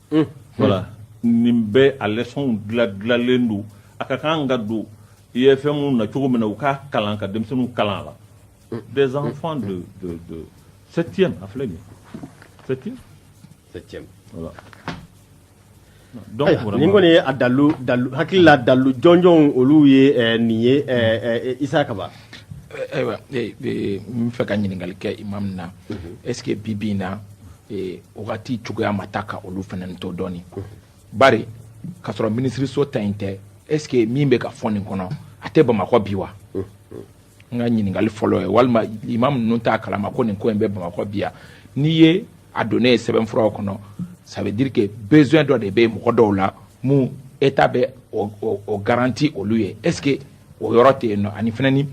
[SPEAKER 2] Voilà nin bɛɛ a leçon dila dilalen don a ka kan ka don IFMw na cogo min na u k'a kalan ka denmisɛnninw kalan a la des enfants de de septième a filɛ nin ye septième nin kɔni ye
[SPEAKER 1] a dalu dalu hakilila dalu jɔnjɔnw olu ye nin ye Isa Kaba
[SPEAKER 3] ayiwa n fɛ ka ɲininkali kɛ imam na est ce que bi bi in na wagati cogoya ma taa ka olu fana to dɔɔni bari ka sɔrɔ minisiriso ta in tɛ est ce que min bɛ ka fɔ nin kɔnɔ a tɛ bamakɔ bi wa n ka ɲininkali fɔlɔ ye walima imam ninnu t'a kalama ko nin ko in bɛ bamakɔ bi yan n'i ye a donnen ye sɛbɛnfuraw kɔnɔ ça veut dire que besoin dɔ de bɛ mɔgɔ dɔw la mun état bɛ o garanti olu ye est ce que o yɔrɔ tɛ yen nɔ ani fana ni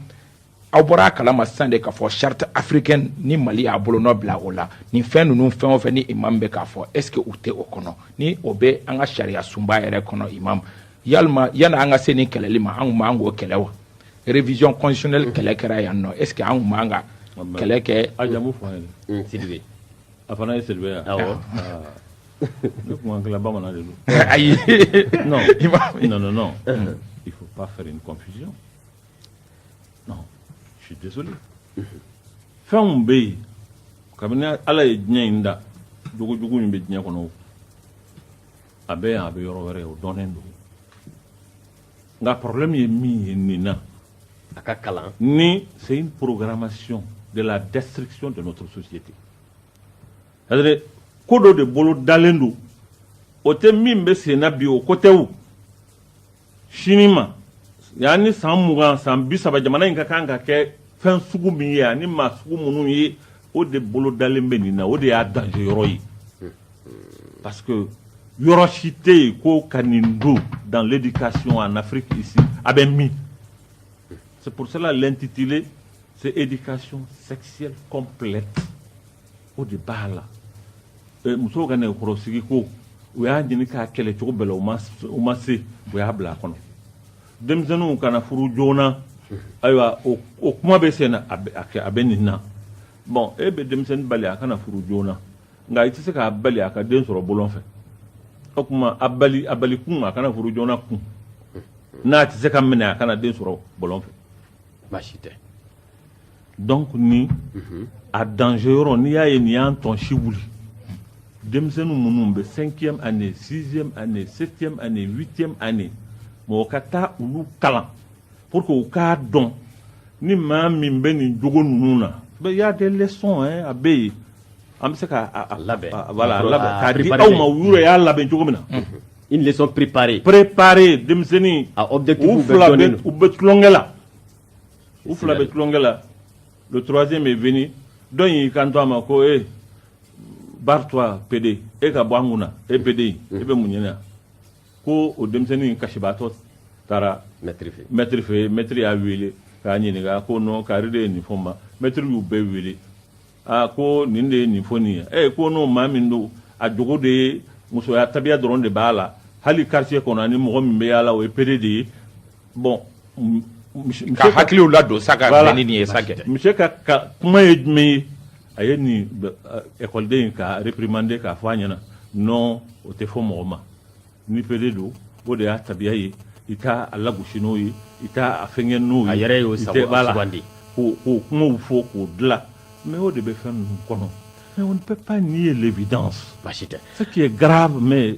[SPEAKER 3] aw bɔra a kalama sisan de k'a fɔ charte africaine ni mali y'a bolonɔ bila o la nin fɛn ninnu fɛn o fɛn ni imam bɛ k'a fɔ est ce que u tɛ o kɔnɔ ni o bɛ an ka sariya sunba yɛrɛ kɔnɔ imam walima yanni an ka se nin kɛlɛli ma an tun man kan k'o kɛlɛ wa révision constitutionnelle kɛlɛ kɛra yan nɔ est ce que an tun man kan ka kɛlɛ kɛ a jamu fɔ an ye
[SPEAKER 2] sidibe
[SPEAKER 1] a fana ye
[SPEAKER 2] sidibe ye awɔ Ne kuma an kelen bamanan de don ayi il faut pas faire une confusion je suis désolé fɛnw bɛ yen kabini ala ye diɲɛ in da jogojugu min bɛ diɲɛ kɔnɔ a bɛ yan a bɛ yɔrɔ wɛrɛ o dɔnnen don nka problème ye min ye nin na a ka kalan
[SPEAKER 1] ni
[SPEAKER 2] c'est une programmation de la destruction de notre société à dire ko dɔ de bolo dalen don o tɛ min bɛ senna bi o ko tɛ o sini ma yanni san mugan san bi saba jamana in ka kan ka kɛ fɛn sugu min ye ani maa sugu minnu ye o de bolo dalen bɛ nin na o de y'a danger yɔrɔ ye parce que yɔrɔ si tɛ yen ko ka nin don dans l'éducation en Afrique ici a bɛ min c'est pour cela l'intitulé c'est éducation sexuelle complète o de b'a la musow ka nɛgɛkɔrɔsigi ko u y'a ɲini k'a kɛlɛ cogo bɛɛ la u ma se u y'a bila a kɔnɔ denmisɛnninw kana furu joona ayiwa o kuma bɛ sen na a bɛ nin na bon e bɛ denmisɛnnin bali a kana furu joona nka i tɛ se k'a bali a ka den sɔrɔ bɔlɔn fɛ o tuma a bali kun a kana furu joona kun n'a tɛ se ka minɛ a kana den sɔrɔ bɔlɔn fɛ baasi tɛ donc ni a danger yɔrɔ n'i y'a ye nin y'an tɔn si wuli denmisɛnninw minnu bɛ cinquième année sixième année septième année huitième année mɔgɔ ka taa olu kalan pour que u k'a dɔn ni maa min bɛ nin jogo ninnu na il y a des leçons hein, a bɛ yen an bɛ se ka a- a- labɛn. a- voilà,
[SPEAKER 1] a labɛn A
[SPEAKER 2] k'a di préparer. aw ma u yɛrɛ y'a labɛn cogo min na Une leçon
[SPEAKER 1] préparée. préparer denmisɛnnin
[SPEAKER 2] A objectif u
[SPEAKER 1] bɛɛ fila bɛ dɔnnen don. u bɛ
[SPEAKER 2] tulonkɛ la u fila bɛ tulonkɛ la le troisième est venu dɔ in y'i kanto a ma ko e eh, barre-toi pédé e ka bɔ an kunna e pédé e mm. bɛ mun ɲini ko o denmisɛnnin in kasibaatɔ taara mɛtiri fɛ mɛtiri fɛ mɛtiri y'a wele k'a ɲininka ko non kari de ye nin fɔ n ma mɛtiri y'u bɛɛ wele aa ko nin de ye nin fɔ nin ye e ko n'o maa min don a jogo de ye musoya tabiya dɔrɔn de b'a la hali quartier kɔnɔ ani mɔgɔ min bɛ yaala o ye pédé de ye bon
[SPEAKER 3] ka hakiliw ladon sa ka bɛn ni nin ye sa kɛ monsieur ka
[SPEAKER 2] ka kuma ye jumɛn ye a ye nin ekɔliden in k'a réprimander k'a fɔ a ɲɛna non o tɛ fɔ mɔgɔ ma Ni pédé don o de y'a tabiya ye i t'a lagosi n'o ye i t'a fɛn n'o ye a yɛrɛ y'o
[SPEAKER 1] sugandi k'o
[SPEAKER 2] kumaw fɔ k'o dilan mais o de bɛ fɛn ninnu kɔnɔ mais on ne peut pas nier l'évidence ce qui est grave mais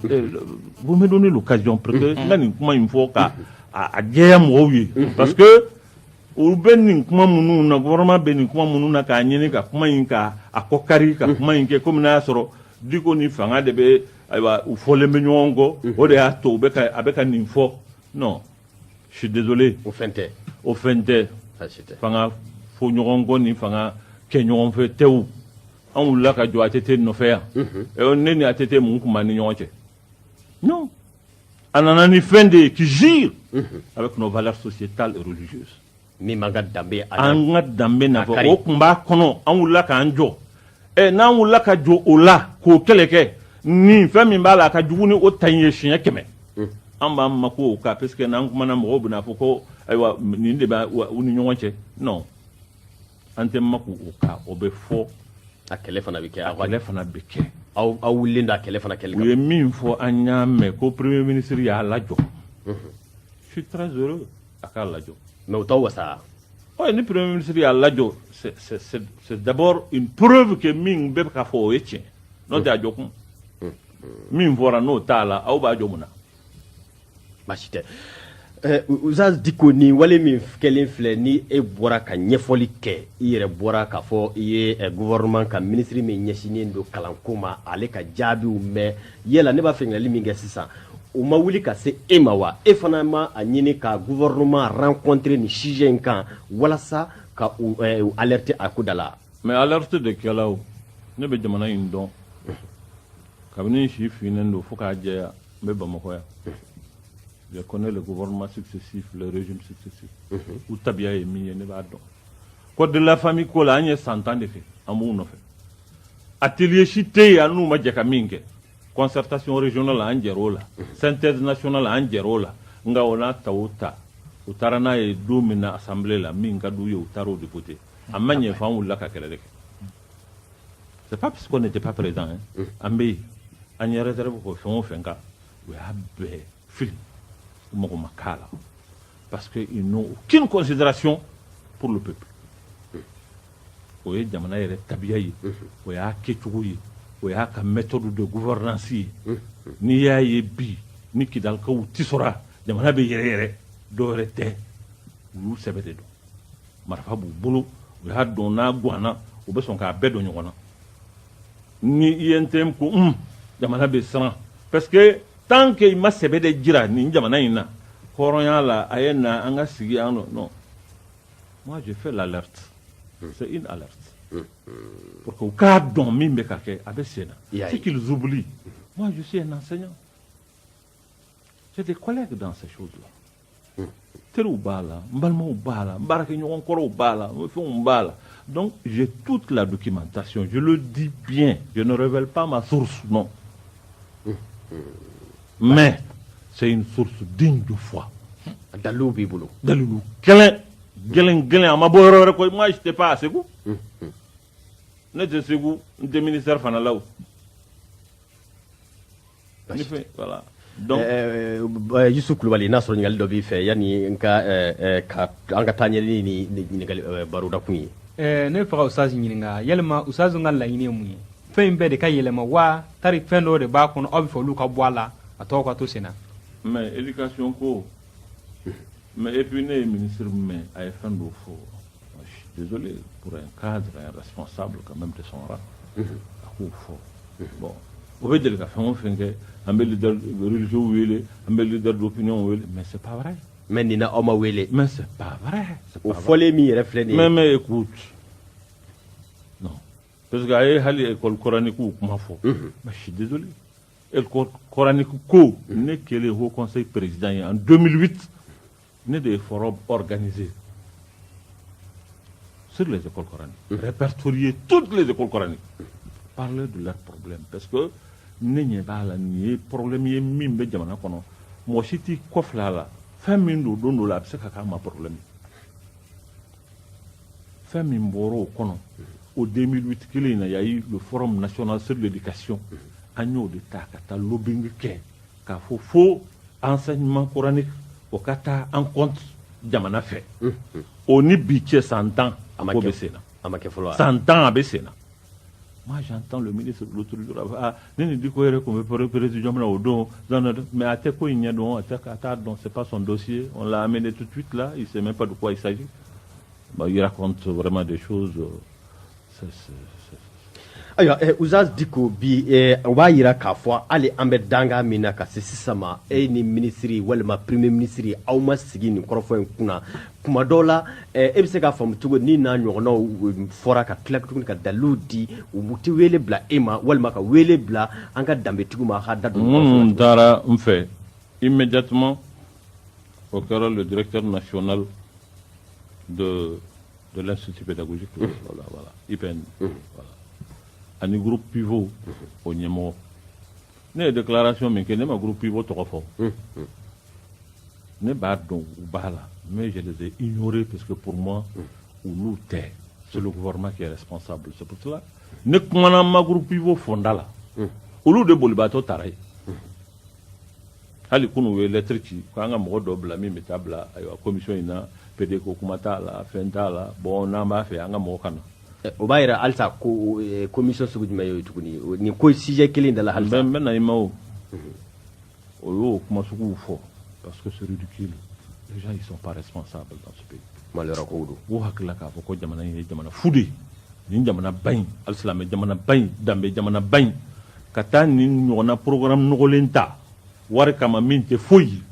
[SPEAKER 2] vous me donnez l'occasion pour que n ka nin kuma in fɔ ka a jɛya mɔgɔw ye parce que u bɛ nin kuma minnu na gouvernement bɛ nin kuma minnu na k'a ɲini ka kuma in ka a kɔ kari ka kuma in kɛ kɔmi y'a sɔrɔ Diko ni fanga de bɛ ayiwa u fɔlen bɛ ɲɔgɔn kɔ o de y'a to a bɛ ka nin fɔ non je suis désolé o fɛn tɛ o fɛn tɛ fanga fo ɲɔgɔn kɔ ni fanga kɛ ɲɔgɔn fɛ tɛw an wulila ka jɔ ATT nɔfɛ yan eh, ne ni ATT mun tun b'an ni ɲɔgɔn cɛ non a nana ni fɛn de ye qui jure avec nos valeurs sociétales et religieuses Min b'an
[SPEAKER 1] ka danbe a la. An ka
[SPEAKER 2] danbe na fɔ, o tun b'a kɔnɔ, an wulila k'an jɔ. Ɛ n'an wulila ka jɔ o la, k'o kɛlɛ kɛ, nin fɛn min b'a la, a ka jugu ni o ta in ye siɲɛ kɛmɛ. Un! An b'an makun o kan parce que n'an kumana, mɔgɔw bɛna fɔ ko ayiwa nin de bɛ u ni ɲɔgɔn cɛ. Non, an tɛ makun o kan, o bɛ fɔ. A kɛlɛ
[SPEAKER 1] fana bɛ kɛ. A kɛlɛ fana bɛ kɛ. Aw
[SPEAKER 2] aw wulilen don a kɛlɛ
[SPEAKER 1] fana kɛli kama. U ye min fɔ,
[SPEAKER 2] an y'a mɛn ko premier ministre y'a lajɔ. Unhun! Je suis très heureux. a k'a lajɔ mais o t'aw wasa
[SPEAKER 1] oui ni
[SPEAKER 2] premier ministre y'a lajɔ c'est c'est c'est c'est d'abord une preuve que min bɛ ka fɔ o ye tiɲɛ n'o tɛ a jɔ kun min fɔra n'o t'a la aw b'a jɔ mun na
[SPEAKER 1] baasi tɛ Eh, Ustaz Diko ni wale min kɛlen filɛ ni e bɔra ka ɲɛfɔli kɛ i yɛrɛ bɔra k'a fɔ i ye eh, gouvernement ka minisiri min ɲɛsinnen don kalanko ma ale ka jaabiw mɛn yala ne b'a fɛ ɲininkali min kɛ sisan o ma wuli ka se e ma wa e fana ma a ɲini ka gouvernement rencontrer nin sujet in kan walasa ka u eh, u alerter a ko da la mais alerte de
[SPEAKER 2] kɛla o ne bɛ jamana in dɔn kabini n si finnen don fo k'a jɛya n bɛ bamakɔ yan je connais les gouvernements successifs les régimes successifs u tabiya ye min ye ne b'a dɔn code de la famille ko la an ye san tan de kɛ an b'u nɔfɛ atelier si tɛ yen an n'u ma jɛ ka min kɛ concertation régionale an jɛr'o la synthèse nationale an jɛr'o la nka o n'a ta o ta u taara n'a ye don min na assemblée la min ka d'u ye u taara o de voter a ma ɲɛ f'an wulila ka kɛlɛ de kɛ c'est pas parce qu'on n'était pas présent hein an bɛ yen an ye réserve kɛ fɛn o fɛn kan u y'a bɛɛ fili u mago ma k'a la parce que ils n'ont aucune considération pour le peuple o ye jamana yɛrɛ tabiya ye o y'a kɛcogo ye o y'a ka méthode de gouvernance ye n'i y'a ye bi ni kidalikaw tisora jamana bɛ yɛrɛ yɛrɛ dɔ wɛrɛ tɛ u y'u sɛbɛ de don marifa b'u bolo u y'a dɔn n'a gwanana u bɛ sɔn k'a bɛɛ don ɲɔgɔn na ni i ye n tɛ ko jamana bɛ siran parce que tant que i ma sɛbɛ de jira nin jamana in na hɔrɔnya la a ye na an ka sigi ah non Moi, je fais l'alerte. C'est une alerte. Pour que u k'a dɔn min bɛ ka kɛ a bɛ sen na. I y'a ye. Ce qu'ils oublient. Moi, je suis un enseignant. J'ai des collègues dans ces choses-là. Teriw b'a la, n balimaw b'a la, n baarakɛɲɔgɔn kɔrɔw b'a la, n fɛnw b'a la. Donc, j'ai toute la documentation. Je le dis bien. Je ne révèle pas ma source, non. mais c'est une source digne de foi dalilu
[SPEAKER 1] b'i bolo dalilu
[SPEAKER 2] gɛlɛn gɛlɛn gɛlɛn a ma bɔ yɔrɔ wɛrɛ koyi moi j'étais pas à Segu ne tɛ Segu n tɛ ministère fana la o ne fɛ voilà donc Euh, euh,
[SPEAKER 1] Yusuf Kulubali n'a sɔrɔ ɲininkali dɔ b'i fɛ yanni n ka euh, euh, ka an ka taa ɲɛ ni ni ɲininkali euh, barodakun ye Ɛɛ ne bɛ fɛ ka Oustaz
[SPEAKER 4] ɲininka yalima Oustaz ka laɲini ye mun ye fɛn in bɛɛ de ka yɛlɛma wa tari fɛn dɔ de b'a kɔnɔ aw bɛ fɛ olu ka bɔ a la a tɔ ka to sen
[SPEAKER 2] na mais éducation ko mais et puis ne ye ministre mɛn a ye fɛn dɔ fɔ je suis désolé pour un cadre un responsable quand même de son rang a k'o fɔ bon o bɛ deli ka fɛn o fɛn kɛ an bɛ leader religieux wele an bɛ leader d'opinion wele mais c'est pas vrai mais nin na aw ma
[SPEAKER 1] wele mais c'est pas vrai
[SPEAKER 2] c'est pas vrai o fɔlen min
[SPEAKER 1] yɛrɛ filɛ nin ye mais mais écoute
[SPEAKER 2] Parce que a ye hali école coranique kuma fɔ. Unhun. Mais je suis désolé. École coranique ko, ne kɛlen haut conseil président ye en 2008, ne de ye forum organisé sur les écoles coraniques. Répertorier toutes les écoles coraniques. Parler de leurs problèmes. Parce que ne ɲɛ b'a la nin ye problème ye min bɛ jamana kɔnɔ. Mɔgɔ si t'i kɔfilɛ a la. Fɛn min don don dɔ la, a bɛ se ka k'an ma problème ye. fɛn min bɔra o kɔnɔ o 2008 kelen in na y a eu le forum national sur l'éducation an y'o de ta ka taa lobbying kɛ k'a fɔ fo enseignement coranique o ka ta en compte jamana fɛ o ni bi cɛ san tan a ko bɛ sen
[SPEAKER 1] na san
[SPEAKER 2] tan a bɛ sen na Moi, j'entends le ministre de l'autre jour, ah, ni dit qu'on veut président au don, mais a tɛ ko in dɔn, a t'a dɔn c'est pas son dossier, on l'a amené tout de suite là, il ne sait même pas de quoi il s'agit. Bah, il raconte vraiment des choses.
[SPEAKER 1] Euh, ayiwa eh, Oustaz Dicko bi eh, o b'a yira k'a fɔ hali an bɛ danga min na ka se sisan ma e ni minisiri walima premier minisiri aw ma sigi nin kɔrɔfɔ in kunna kuma dɔw la e bɛ se k'a faamu cogo ni n'a ɲɔgɔnnaw fɔra ka tila tuguni ka dalilu di u tɛ wele bila e ma walima ka wele bila an ka danbetigiw ma hadamaden minnu taara n
[SPEAKER 2] fɛ immédiatement o kɛra le directeur national de l'institut pédagogique IPN ani groupe pivot o ɲɛmɔgɔ ne ye déclaration min kɛ ne ma groupe pivot tɔgɔ fɔ ne b'a dɔn u b'a la mais je les ai ignorés parce que pour moi olu tɛ c'est le gouvernement qui est responsable c'est pour cela ne kumana ma groupe pivot fɔ n da la olu de bolibaatɔ taara yen hali kunu u ye lettre ci ko an ka mɔgɔ dɔ bila min bɛ taa bila ayiwa commission in na pede ko kuma t'a la fɛn t'a la bon n'an b'a fɛ an ka mɔgɔ ka na O b'a jira
[SPEAKER 1] halisa ko commission sugu jumɛn ye tuguni ni ko sujet kelen da la hali n bɛ na i ma
[SPEAKER 2] o o y'o kuma sugu fɔ parce que c'est ridicule les gens ils sont pas responsables dans ce pays malheur ko don
[SPEAKER 1] o hakili la k'a fɔ
[SPEAKER 2] ko jamana in ye jamana fu de ye nin jamana ba in alisilamɛ jamana ba in danbe jamana ba in ka taa nin ɲɔgɔnna programme nɔgɔlen ta wari kama min tɛ foyi ye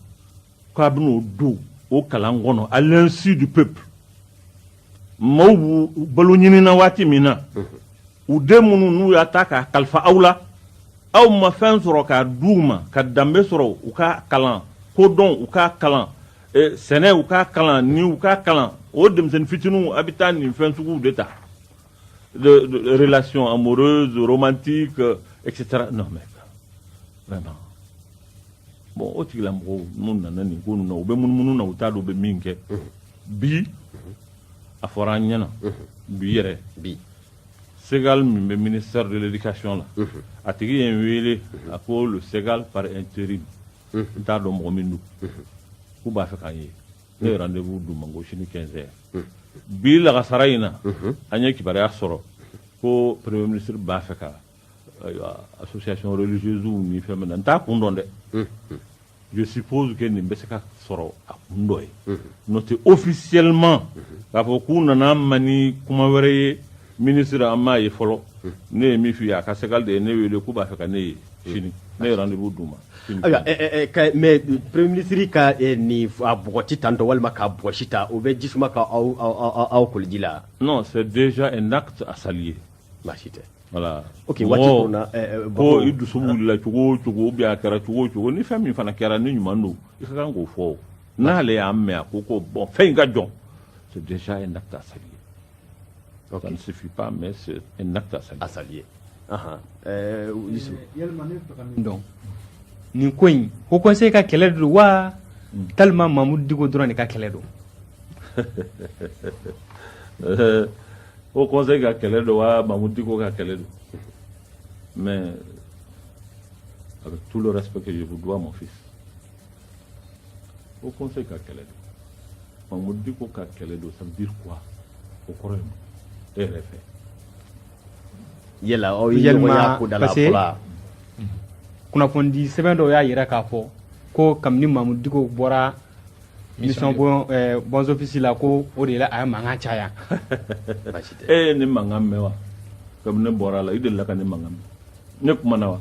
[SPEAKER 2] k'a bɛn'o don o kalan kɔnɔ à l'insu du peuple maaw b'u balo ɲininna waati min na u den minnu n'u y'a ta k'a kalifa aw la aw ma fɛn sɔrɔ k'a di u ma ka danbe sɔrɔ u ka kalan kodɔn u ka kalan eh, sɛnɛ u ka kalan ni u ka kalan o denmisɛnnin fitininw a bɛ taa nin fɛn suguw de ta de, de relations amoureuses, romantiques, euh, etc. Non, mais vraiment. Bon, o tigilamɔgɔw n'u nana nin ko ninnu na u bɛ munumunu na u t'a dɔn u bɛ min kɛ bi a fɔra an ɲɛna bi yɛrɛ
[SPEAKER 1] bi
[SPEAKER 2] Ségal min bɛ ministère de l'éducation la a tigi ye n wele a ko le Ségal par intérim n t'a dɔn mɔgɔ min don k'u b'a fɛ k'an ye ne ye rendez-vous d'u ma ko sini 15 heures bi lagasara in na an ye kibaruya sɔrɔ ko premier ministre b'a fɛ ka association religieuse ni fɛn min na n t'a kun dɔn dɛ je suppose que nin bɛ se ka sɔrɔ a kun dɔ ye n'o tɛ officiellement k'a fɔ k'u nana n ma ni kuma wɛrɛ ye Minisiri an m'a ye fɔlɔ ne ye min f'i ye a ka Ségal de ye ne wele k'u b'a fɛ ka ne ye sini ne ye rendez-vous d'u ma
[SPEAKER 1] mais premier ministre ka nin a bɔgɔti tan tɔ walima ka bɔsi ta o bɛ ji suma k' aw koliji la non c'est
[SPEAKER 2] déjà un acte à saluer baasi
[SPEAKER 1] tɛ voilà o waati ko i
[SPEAKER 2] dusu wulila cogo o cogo a kɛra cogo o cogo ni fɛn min fana kɛra ni ɲuman don i ka kan k'o fɔ n'ale y'a mɛn a ko ko bon fɛn in ka jɔ c'est déjà un acte à saluer Okay. Ça ne suffit pas, mais c'est un acte à saluer. À saluer.
[SPEAKER 1] Uh -huh.
[SPEAKER 4] euh, Yusuf. Donc, nin ko in Haut Conseil ka kɛlɛ don wa walima mamudu diko dɔrɔn de ka kɛlɛ don
[SPEAKER 2] Haut Conseil ka kɛlɛ don wa mamudu diko ka kɛlɛ don mais avec tout le respect que je vous dois mon fils Haut Conseil ka kɛlɛ don mamudu diko ka kɛlɛ don ça veut dire quoi o kɔrɔ ye mun e yɛrɛ fɛ yala
[SPEAKER 1] aw ye ɲɔgɔn y'a ko da la fɔlɔ wa
[SPEAKER 4] kunnafonidi sɛbɛn dɔw y'a yira k'a fɔ ko kabini mamudu diko bɔra mission bon eh, bons offices la ko o de la a ye mankan caya
[SPEAKER 2] e ye ne mankan mɛn wa kabini ne bɔra a la i delila ka ne mankan mɛn ne kumana wa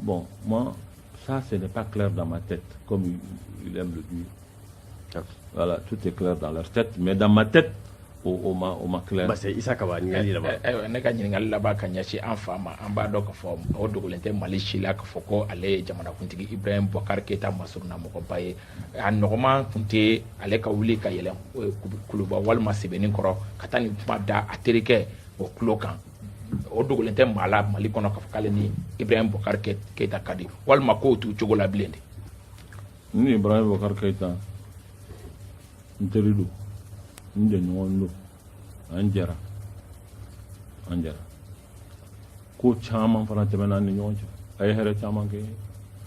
[SPEAKER 2] Bon, moi, ça, ce n'est pas clair dans ma tête, comme il, aime le dire. Voilà, tout est clair dans leur tête, mais dans ma tête, o, o ma, o ma clair. Parce que Issa Kaba,
[SPEAKER 1] eh, eh, eh, ne ka ɲininkali laban
[SPEAKER 3] ka ɲɛsin an fa ma an b'a dɔn k'a fɔ o dogolen tɛ mali si la k'a fɔ ko ale ye jamanakuntigi ibrahim bubakar keyita masurunna mɔgɔba ye a nɔgɔman kun tɛ ale ka wuli ka yɛlɛn kuluba walima sebeninkɔrɔ ka taa nin kuma da a terikɛ o tulo kan o dogolen tɛ maa la mali kɔnɔ k'a fɔ k'ale ni ibrahim bubakar keyita ka di walima k'o t'u cogo la bilen de ni
[SPEAKER 2] ibrahim bubakar keyita n teri don n jɛɲɔgɔn don an jɛra an jɛra ko caman fana tɛmɛna an ni ɲɔgɔn cɛ a ye hɛrɛ caman kɛ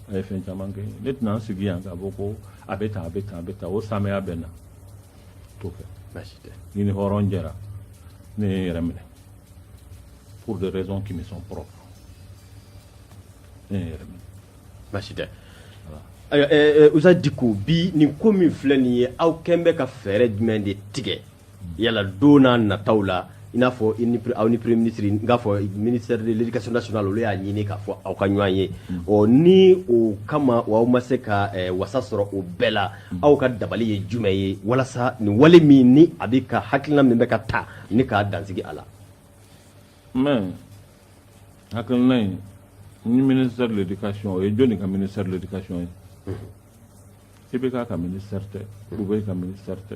[SPEAKER 2] a ye fɛn caman kɛ ne tɛna n sigi yan k'a fɔ ko a bɛ tan a bɛ tan a bɛ tan o saamɛya bɛ n na tout à fait baasi tɛ ne ni
[SPEAKER 1] hɔrɔn
[SPEAKER 2] jɛra ne ye n yɛrɛ minɛ pour des raisons qui me sont propres ne ye n yɛrɛ minɛ baasi
[SPEAKER 1] tɛ ayiwa ɛɛ ɛɛ, usa diko bi nin ko min filɛ nin ye aw kɛn bɛ ka fɛɛrɛ jumɛn de tigɛ yala don nataw la i n'a fɔ aw ni premier ministre n k'a fɔ ministère de l'éducation nationale olu y'a ɲini k'a fɔ aw ka ɲɔgɔn ye mm. ɔ ni o kama o aw ma se ka eh, wasa sɔrɔ o bɛɛ la mm. aw ka dabali ye jumɛn ye walasa nin wale min ni a bɛ ka hakilina min bɛ ka ta ni ka dan sigi a
[SPEAKER 2] la. mais hakilina in ni ministère de l'éducation o ye jɔni ka ministère de l'éducation ye. Mm-hmm. IBK ka ministère tɛ Boubèye ka ministère tɛ.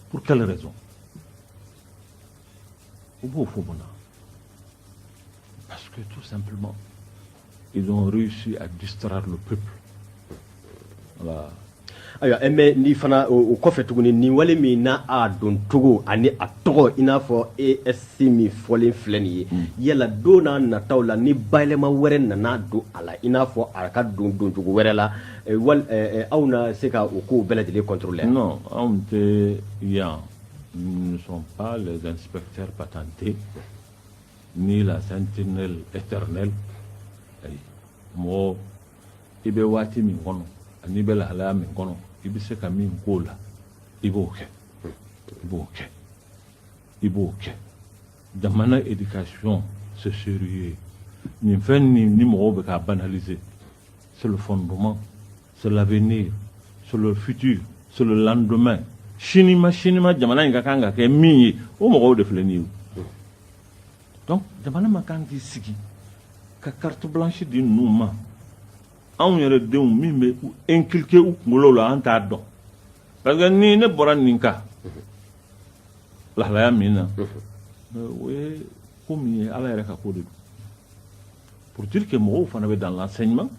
[SPEAKER 2] pour quelle raison u b'o fɔ parce que tout simplement ils ont réussi à distraire le peuple voilà ayiwa
[SPEAKER 1] eh, mais ni fana o kɔfɛ tuguni nin wale min na a doncogo ani a tɔgɔ i n'a fɔ esc min fɔlen filɛ nin ye mm. yala don na nataw la ni bayɛlɛma wɛrɛ nana don a la i n'a fɔ a ka don doncogo wɛrɛ la wali aw na se ka u ko bɛɛ lajɛlen kɔto la nɔn anw tɛ
[SPEAKER 2] yan nisɔn zsɛpte pa tante ni la tɛ ne ayi mɔgɔ i bɛ waati min kɔnɔ ani bɛ lahalaya min kɔnɔ i bɛ se ka min k'o la i b'o kɛ i b'o kɛ i b'o kɛ jamana edikasiɔn seri ye nin fɛn ni ni mɔgɔw bɛ ka banalize c'est le fondement, c'est l'avenir, c'est le futur, c'est le lendemain. Sini ma sini ma jamana in ka kan ka kɛ min ye o mɔgɔw de filɛ nin ye o. donc jamana ma kan k'i sigi ka carte blanche di ninnu ma anw yɛrɛ denw min bɛ inculquer u kunkolo la an t'a dɔn parce que ni ne bɔra nin kan lahalaya min na o ye ko min ye ala yɛrɛ ka ko de don. pour dire que mɔgɔw fana bɛ dans l'enseignement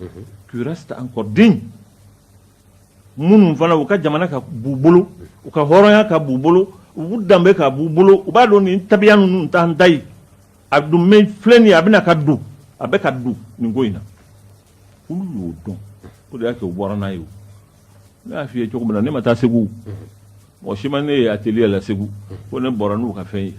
[SPEAKER 2] qui restent encore dignes minnu fana u ka jamana ka b'u bolo u ka hɔrɔnya ka b'u bolo u danbe ka b'u bolo u b'a dɔn nin tabiya ninnu t'an ta ye a dun bɛ filɛ nin ye a bɛna ka don a bɛ ka don nin ko in na olu y'o dɔn o de y'a kɛ u bɔra n'a ye o ne y'a f'i ye cogo min na ne ma taa segu mɔgɔ si ma ne ye atelier la segu ko ne bɔra n'u ka fɛn ye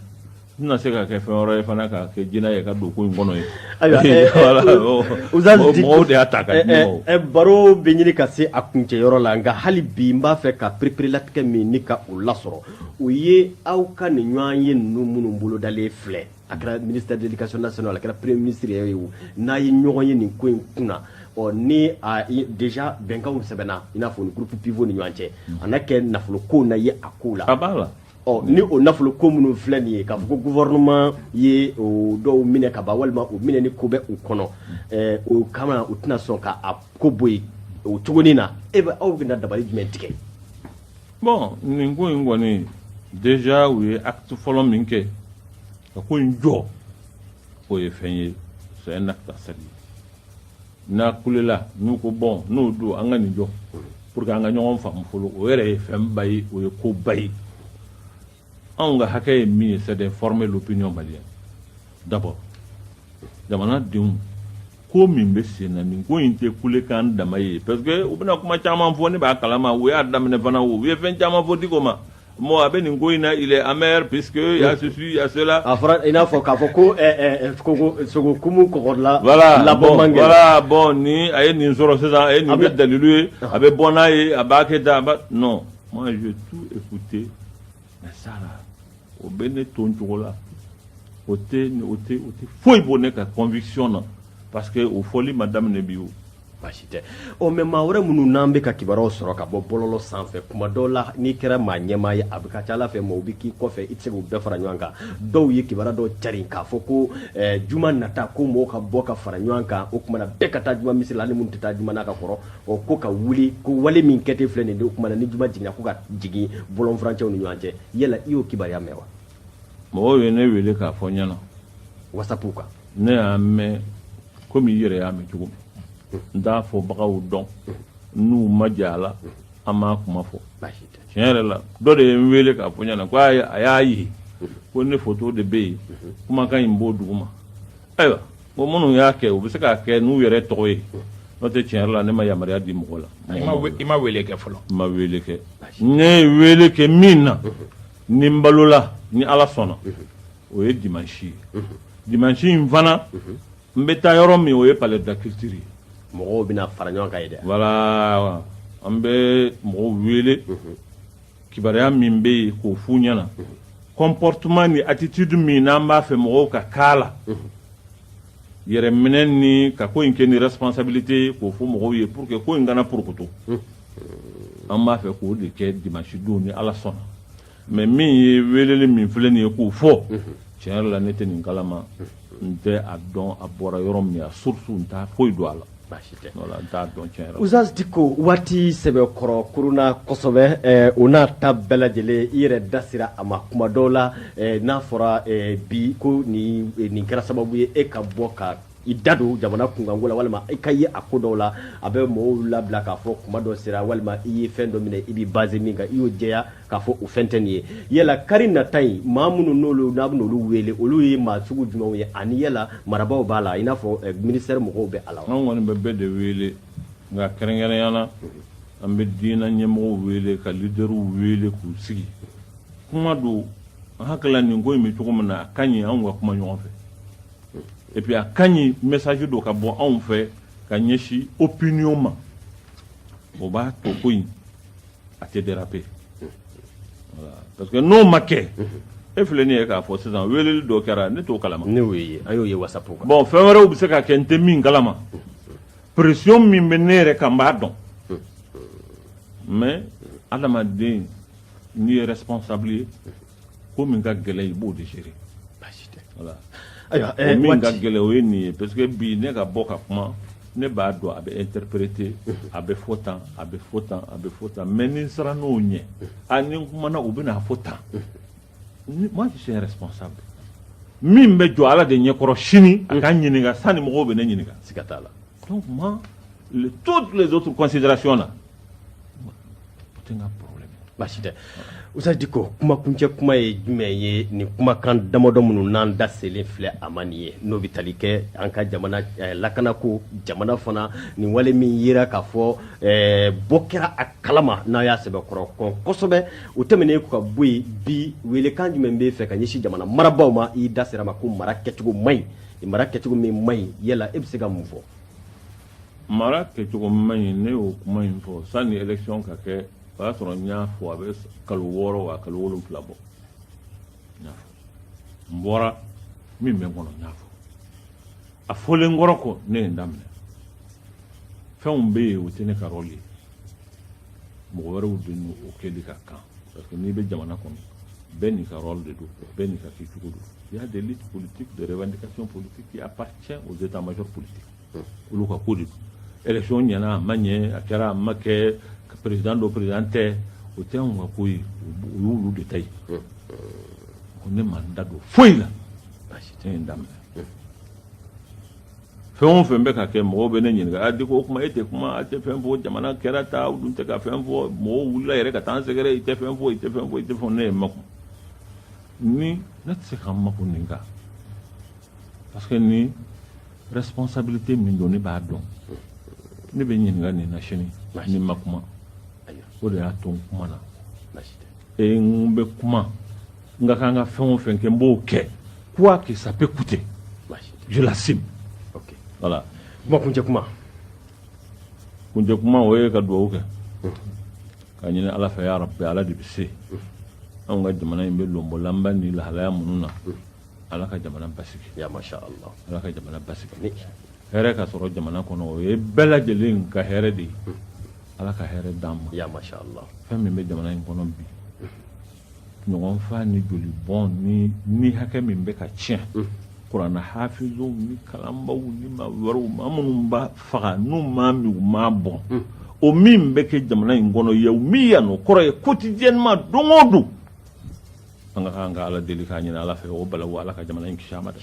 [SPEAKER 2] n tɛna se ka kɛ fɛn wɛrɛ ye fana ka kɛ jinɛ ye ka don ko in kɔnɔ ye Ayiwa, eh, Voilà, eh, o- Ustaz o- Diko- mɔgɔw de y'a ta ka eh, di eh, mɔgɔw eh, baro bɛ ɲini
[SPEAKER 1] ka se a kuncɛyɔrɔ la nka hali bi n b'a fɛ ka pereperelatigɛ min ɲini ka o lasɔrɔ o ye aw ka nin ɲɔgɔnye ninnu minnu bolodalen filɛ a kɛra ministre de l'éducation nationale a kɛra premier ministre yɛrɛ ye o n'a ye ɲɔgɔn ye nin ko in kunna ɔ ni a déjà bɛnkanw sɛbɛnna i n'a fɔ ni groupe pivot ni ɲɔgɔn cɛ a na kɛ
[SPEAKER 2] nafolo
[SPEAKER 1] ko na ye a ko la a
[SPEAKER 2] b'a
[SPEAKER 1] la ɔ ni o nafolo ko minnu filɛ nin ye k'a fɔ ko gouvernement ye o dɔw minɛ ka ban walima o minɛni ko bɛ u kɔnɔ ɛɛ o kama u tɛna sɔn ka a ko bɔ yen o cogonin na e bɛ aw bɛna dabali jumɛn tigɛ
[SPEAKER 2] bon nin ko in kɔni déjà u ye acte fɔlɔ min kɛ ka ko in jɔ o ye fɛn ye c'est un acte à saluer n'a kulela n'u ko bon n'o don an ka nin jɔ pour que an ka ɲɔgɔn faamu fɔlɔ o yɛrɛ ye fɛnba ye o ye koba ye anw ka hakɛ ye min ye c'est de former l'opinion malienne d'abord jamanadenw ko min bɛ sen na nin ko in tɛ kulekan dama ye parce que u bɛna kuma caman fɔ ne b'a kalama u y'a daminɛ fana o u ye fɛn caman fɔ diko ma bon a bɛ nin ko in na il est amer puisque il y a ceci il y a cela a fɔra i n'a fɔ k'a
[SPEAKER 1] fɔ ko ɛɛ sogo sogo kumu kɔgɔdila voilà labɔ bon man
[SPEAKER 2] gɛlɛn voilà
[SPEAKER 1] bon ni a
[SPEAKER 2] ye nin sɔrɔ sisan a ye nin A bɛ- kɛ dalilu ye a bɛ bɔ n'a ye a b'a kɛ tan a b'a non moi j'ai tout écouté mais ça là o bɛ ne to n cogo la o tɛ o tɛ o tɛ foyi bɔ ne ka conviction na parce que o fɔli ma daminɛ bi o baasi tɛ
[SPEAKER 1] ɔ mais maa wɛrɛ minnu n'an bɛ ka kibaruyaw sɔrɔ ka bɔ bɔlɔlɔ sanfɛ kuma dɔw la n'i kɛra maa ɲɛmaa ye a bɛ ka ca ala fɛ maaw bɛ k'i kɔfɛ i tɛ se k'u bɛɛ fara ɲɔgɔn kan dɔw ye kibaruya dɔw carin k'a fɔ ko eh, juma nata ko mɔgɔw ka bɔ ka fara ɲɔgɔn kan o kumana bɛɛ ka taa juma misiri la hali minnu tɛ taa juma na ka kɔrɔ o ko ka wuli ko wale min kɛtɔ filɛ nin ye o kumana ni juma jiginna ko ka jigin bɔlɔnfurancɛw ni ɲɔgɔn cɛ yala i y'o kibaruya mɛn wa mɔgɔw ye
[SPEAKER 2] ne wele k'a fɔ n ɲɛna wasapu
[SPEAKER 1] kan ne y'a mɛn
[SPEAKER 2] komi i yɛrɛ y'a mɛn cogo min n t'a fɔbagaw dɔn n'u ma jɛ a la an m'a kuma fɔ tiɲɛ yɛrɛ la dɔ de ye n wele k'a fɔ n ɲɛna ko a y'a ye ko ne foto de bɛ yen kumakan in b'o duguma Ayiwa bon minnu y'a kɛ u bɛ se k'a kɛ n'u yɛrɛ tɔgɔ ye n'o tɛ tiɲɛ yɛrɛ la ne ma yamaruya di mɔgɔ la i ma we- i ma wele kɛ
[SPEAKER 3] fɔlɔ n ma wele kɛ
[SPEAKER 2] ne ye wele kɛ min na ni n balola ni ala sɔnna o ye dimansi ye dimansi in fana n bɛ taa yɔrɔ min o ye palais de la culture ye mɔgɔw bɛna fara
[SPEAKER 1] ɲɔgɔn kan yen de voilà an
[SPEAKER 2] bɛ mɔgɔw wele kibaruya min bɛ yen k'o f'u ɲɛna comportement ni attitude min n'an b'a fɛ mɔgɔw ka k'a la yɛrɛ minɛ ni ka ko in kɛ ni responsabilité ye k'o fɔ mɔgɔw ye pour que ko in kana porokoto an b'a fɛ k'o de kɛ dimanche don ni ala sɔnna mais min ye weleli min filɛ nin ye k'o fɔ tiɲɛ yɛrɛ la ne tɛ nin kalama n tɛ a dɔn a bɔra yɔrɔ min a source n t'a foyi dɔn a la baasi tɛ n t'a dɔn tiɲɛ ustazi diko
[SPEAKER 1] waati sɛbɛkɔrɔ kurunna kosɛbɛ o n'a ta bɛɛ lajɛlen i yɛrɛ da sera a ma kuma dɔw la n'a fɔra bi ko nin nin kɛra sababu ye e ka bɔ ka i da don jamana kunkanko la walima i ka ye a ko dɔw la a bɛ mɔgɔw labila k'a fɔ kuma dɔ sera walima i ye fɛn dɔ minɛ i bɛ basé min kan i y'o jɛya k'a fɔ o fɛn tɛ nin ye yala kari nata in maa minnu n'olu n'a bɛna olu wele olu ye maa sugu jumɛnw ye ani yala marabaw b'a la i n'a fɔ eh, ministère mɔgɔw bɛ a la an kɔni bɛ bɛɛ de wele
[SPEAKER 2] nka kɛrɛnkɛrɛnya na an bɛ diinɛ ɲɛmɔgɔw wele ka lidɛriw wele k'u sigi kuma don an hakili la nin ko in bɛ cogo min na a ka ɲi anw ka kuma ɲɔgɔn fɛ et puis a ka ɲi message dɔ ka bɔ anw fɛ ka ɲɛsin opinion ma o b'a to ko in a tɛ déraper voilà parce que n'o ma kɛ e filɛ nin ye k'a fɔ sisan weeleli dɔ kɛra ne t'o kalama ne y'o ye an y'o ye
[SPEAKER 1] whatsapp kan bon fɛn wɛrɛw bɛ se ka kɛ
[SPEAKER 2] n tɛ min kalama pression min bɛ ne yɛrɛ kan n b'a dɔn mais adamaden n'i ye responsable ye ko min ka gɛlɛn i b'o de gérer basi tɛ voilà ayiwa o eh, min ka gɛlɛn o ye nin ye parce que bi ne ka bɔ ka kuma ne b'a dɔn a bɛ interpréter a bɛ fɔ tan a bɛ fɔ tan a bɛ fɔ tan mais ni n siranna o ɲɛ a ni n kumana u bɛna fɔ tan moi je suis un responsable min bɛ jɔ ala de ɲɛkɔrɔ sini a ka ɲininka sani mɔgɔw bɛ ne ɲininka siga t'a la
[SPEAKER 1] donc moi
[SPEAKER 2] le, toutes les autres considérations là Basi
[SPEAKER 1] tɛ ustaz Diko kumakuncɛ kuma ye jumɛn ye nin kumakan damadɔ minnu n'an da selen filɛ a ma nin ye n'o bɛ tali kɛ an ka jamana lakanako jamana fana nin wale min yera k'a fɔ bɔ kɛra a kalama n'a y'a sɛbɛkɔrɔ kɔn kosɛbɛ o tɛmɛnen kɔ ka bɔ yen bi weelekan jumɛn b'e fɛ ka ɲɛsin jamana marabaw ma i da sera ma ko mara kɛcogo man ɲi mara kɛcogo min man ɲi yala e bɛ se ka mun fɔ
[SPEAKER 2] Mara kɛcogo man ɲi ne y'o kuma in fɔ sanni élection ka kɛ o y'a sɔrɔ n y'a fɔ a bɛ kalo wɔɔrɔ wa kalo wolonwula bɔ n y'a fɔ n bɔra min bɛ n kɔnɔ n y'a fɔ a fɔlen kɔrɔ kɔ ne ye n daminɛ fɛnw bɛ yen o tɛ ne ka rôle ye mɔgɔ wɛrɛw de n'o kɛli ka kan parce que n'i bɛ jamana kɔnɔ bɛɛ n'i ka rôle de don bɛɛ n'i ka kɛcogo don il y a des luttes politiques des revendications politiques qui appartiennent aux états-majors politiques olu ka ko don élection ɲɛna a ma ɲɛ a kɛra a ma kɛ président don président tɛ o tɛ anw ka ko ye o y'olu de ta ye ko ne ma n da don foyi la basi tɛ n daminɛ fɛn o fɛn bɛ ka kɛ mɔgɔw bɛ ne ɲininka a Diko kuma e tɛ kuma a tɛ fɛn fɔ jamana kɛra tan aw dun tɛ ka fɛn fɔ mɔgɔw wulila yɛrɛ ka taa an sɛgɛrɛ i tɛ fɛn fɔ i tɛ fɛn fɔ i tɛ fɛn ne ye n makun ni ne tɛ se ka n makun nin kan parce que nin responsabilité min don ne b'a dɔn ne bɛ ɲininka nin na sini ni n ma kuma o de y'a to n kumana e n bɛ kuma n ka kan ka fɛn o fɛn kɛ n b'o kɛ quoi que ça peut coûter je l'assume okay. voilà kuma
[SPEAKER 1] kuncɛ kuma
[SPEAKER 2] kuncɛ kuma o ye ka dugawu kɛ k'a ɲini ala fɛ ya rabbi ala de bɛ se anw ka jamana in bɛ lonbɔlanba ni lahalaya minnu na ala ka jamana basigi ya masha
[SPEAKER 1] Allah ala ka jamana
[SPEAKER 2] basigi hɛrɛ ka sɔrɔ jamana kɔnɔ o ye bɛɛ lajɛlen ka hɛrɛ de ye ala ka hɛrɛ d'an ma ya masha Allah
[SPEAKER 1] fɛn
[SPEAKER 2] min
[SPEAKER 1] bɛ jamana in
[SPEAKER 2] kɔnɔ bi ɲɔgɔn faga ni joli bɔn ni ni hakɛ min bɛ ka tiɲɛ kuranna hafizuw ni kalanbaw ni maa wɛrɛw maa minnu b'a faga n'u m'a min u m'a bɔn o min bɛ kɛ jamana in kɔnɔ ye o min yan o kɔrɔ ye quotidiennement don o don an ka kan ka ala deli k'a ɲini ala fɛ o balawu ala ka jamana in kisi a ma dɛ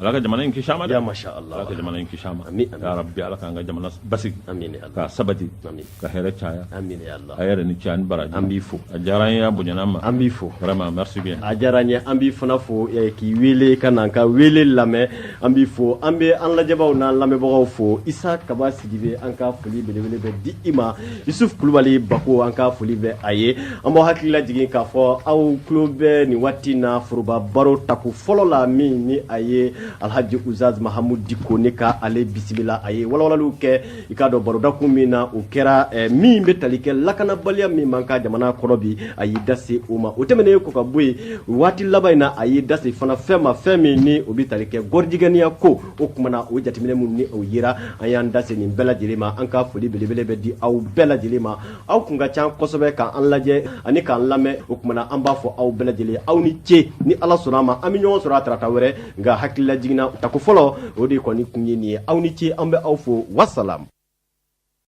[SPEAKER 2] ala ka jamana in kisi a ma dɛ Ya masha Allah. ala ka jamana
[SPEAKER 1] in kisi a ma
[SPEAKER 2] Amin, amin. ya rabbi ala k'an
[SPEAKER 1] ka
[SPEAKER 2] jamana basigi Amin, ya Allah. k'a sabati Amin. ka hɛrɛ caya
[SPEAKER 1] Amin,
[SPEAKER 2] ya Allah. a yɛrɛ
[SPEAKER 1] ni ce a ni
[SPEAKER 2] baraji An b'i fo. a diyara
[SPEAKER 1] an ye a bonyana
[SPEAKER 2] an ma An b'i fo. vraiment merci
[SPEAKER 1] bien a diyara
[SPEAKER 2] n ye an b'i fana
[SPEAKER 1] fo eh, k'i wele ka na n ka wele lamɛn An b'i fo an bɛ an lajɛbagaw n'an lamɛnbagaw fo isa kaba sidibe an ka foli belebele bɛ di i ma yusufu kulubali bako an ka foli bɛ a ye an b'aw hakili lajigin k'a fɔ aw tulo bɛ nin waati na foroba baro tako fɔlɔ la min ni a ye alhaji ustaz mahamud diko ne ka ale bisimila a ye walawalaliw kɛ i k'a dɔn barodakun min na o kɛra eh, min bɛ tali kɛ lakanabaliya min b'an ka jamana kɔnɔ bi a y'i da se o ma o tɛmɛnen kɔ ka bɔ yen waati laban in na a y'i da se fana fɛn ma fɛn min ni o bɛ tali kɛ gɔrijigɛniya ko o kumana o jateminɛ minnu ni o yera an y'an da se nin bɛɛ lajɛlen ma an ka foli belebele bɛ di aw bɛɛ lajɛlen ma aw kun ka ca kosɛbɛ k'an lajɛ ani k'an lamɛn o kumana an b'a fɔ aw bɛɛ lajɛlen aw ni ce ni ala sɔnna a ma an bɛ ɲɔgɔn sɔrɔ a tarata wɛrɛ nka hakili lajiginna tako fɔlɔ o de kɔni kun ye nin ye aw ni ce an bɛ aw fo wasalam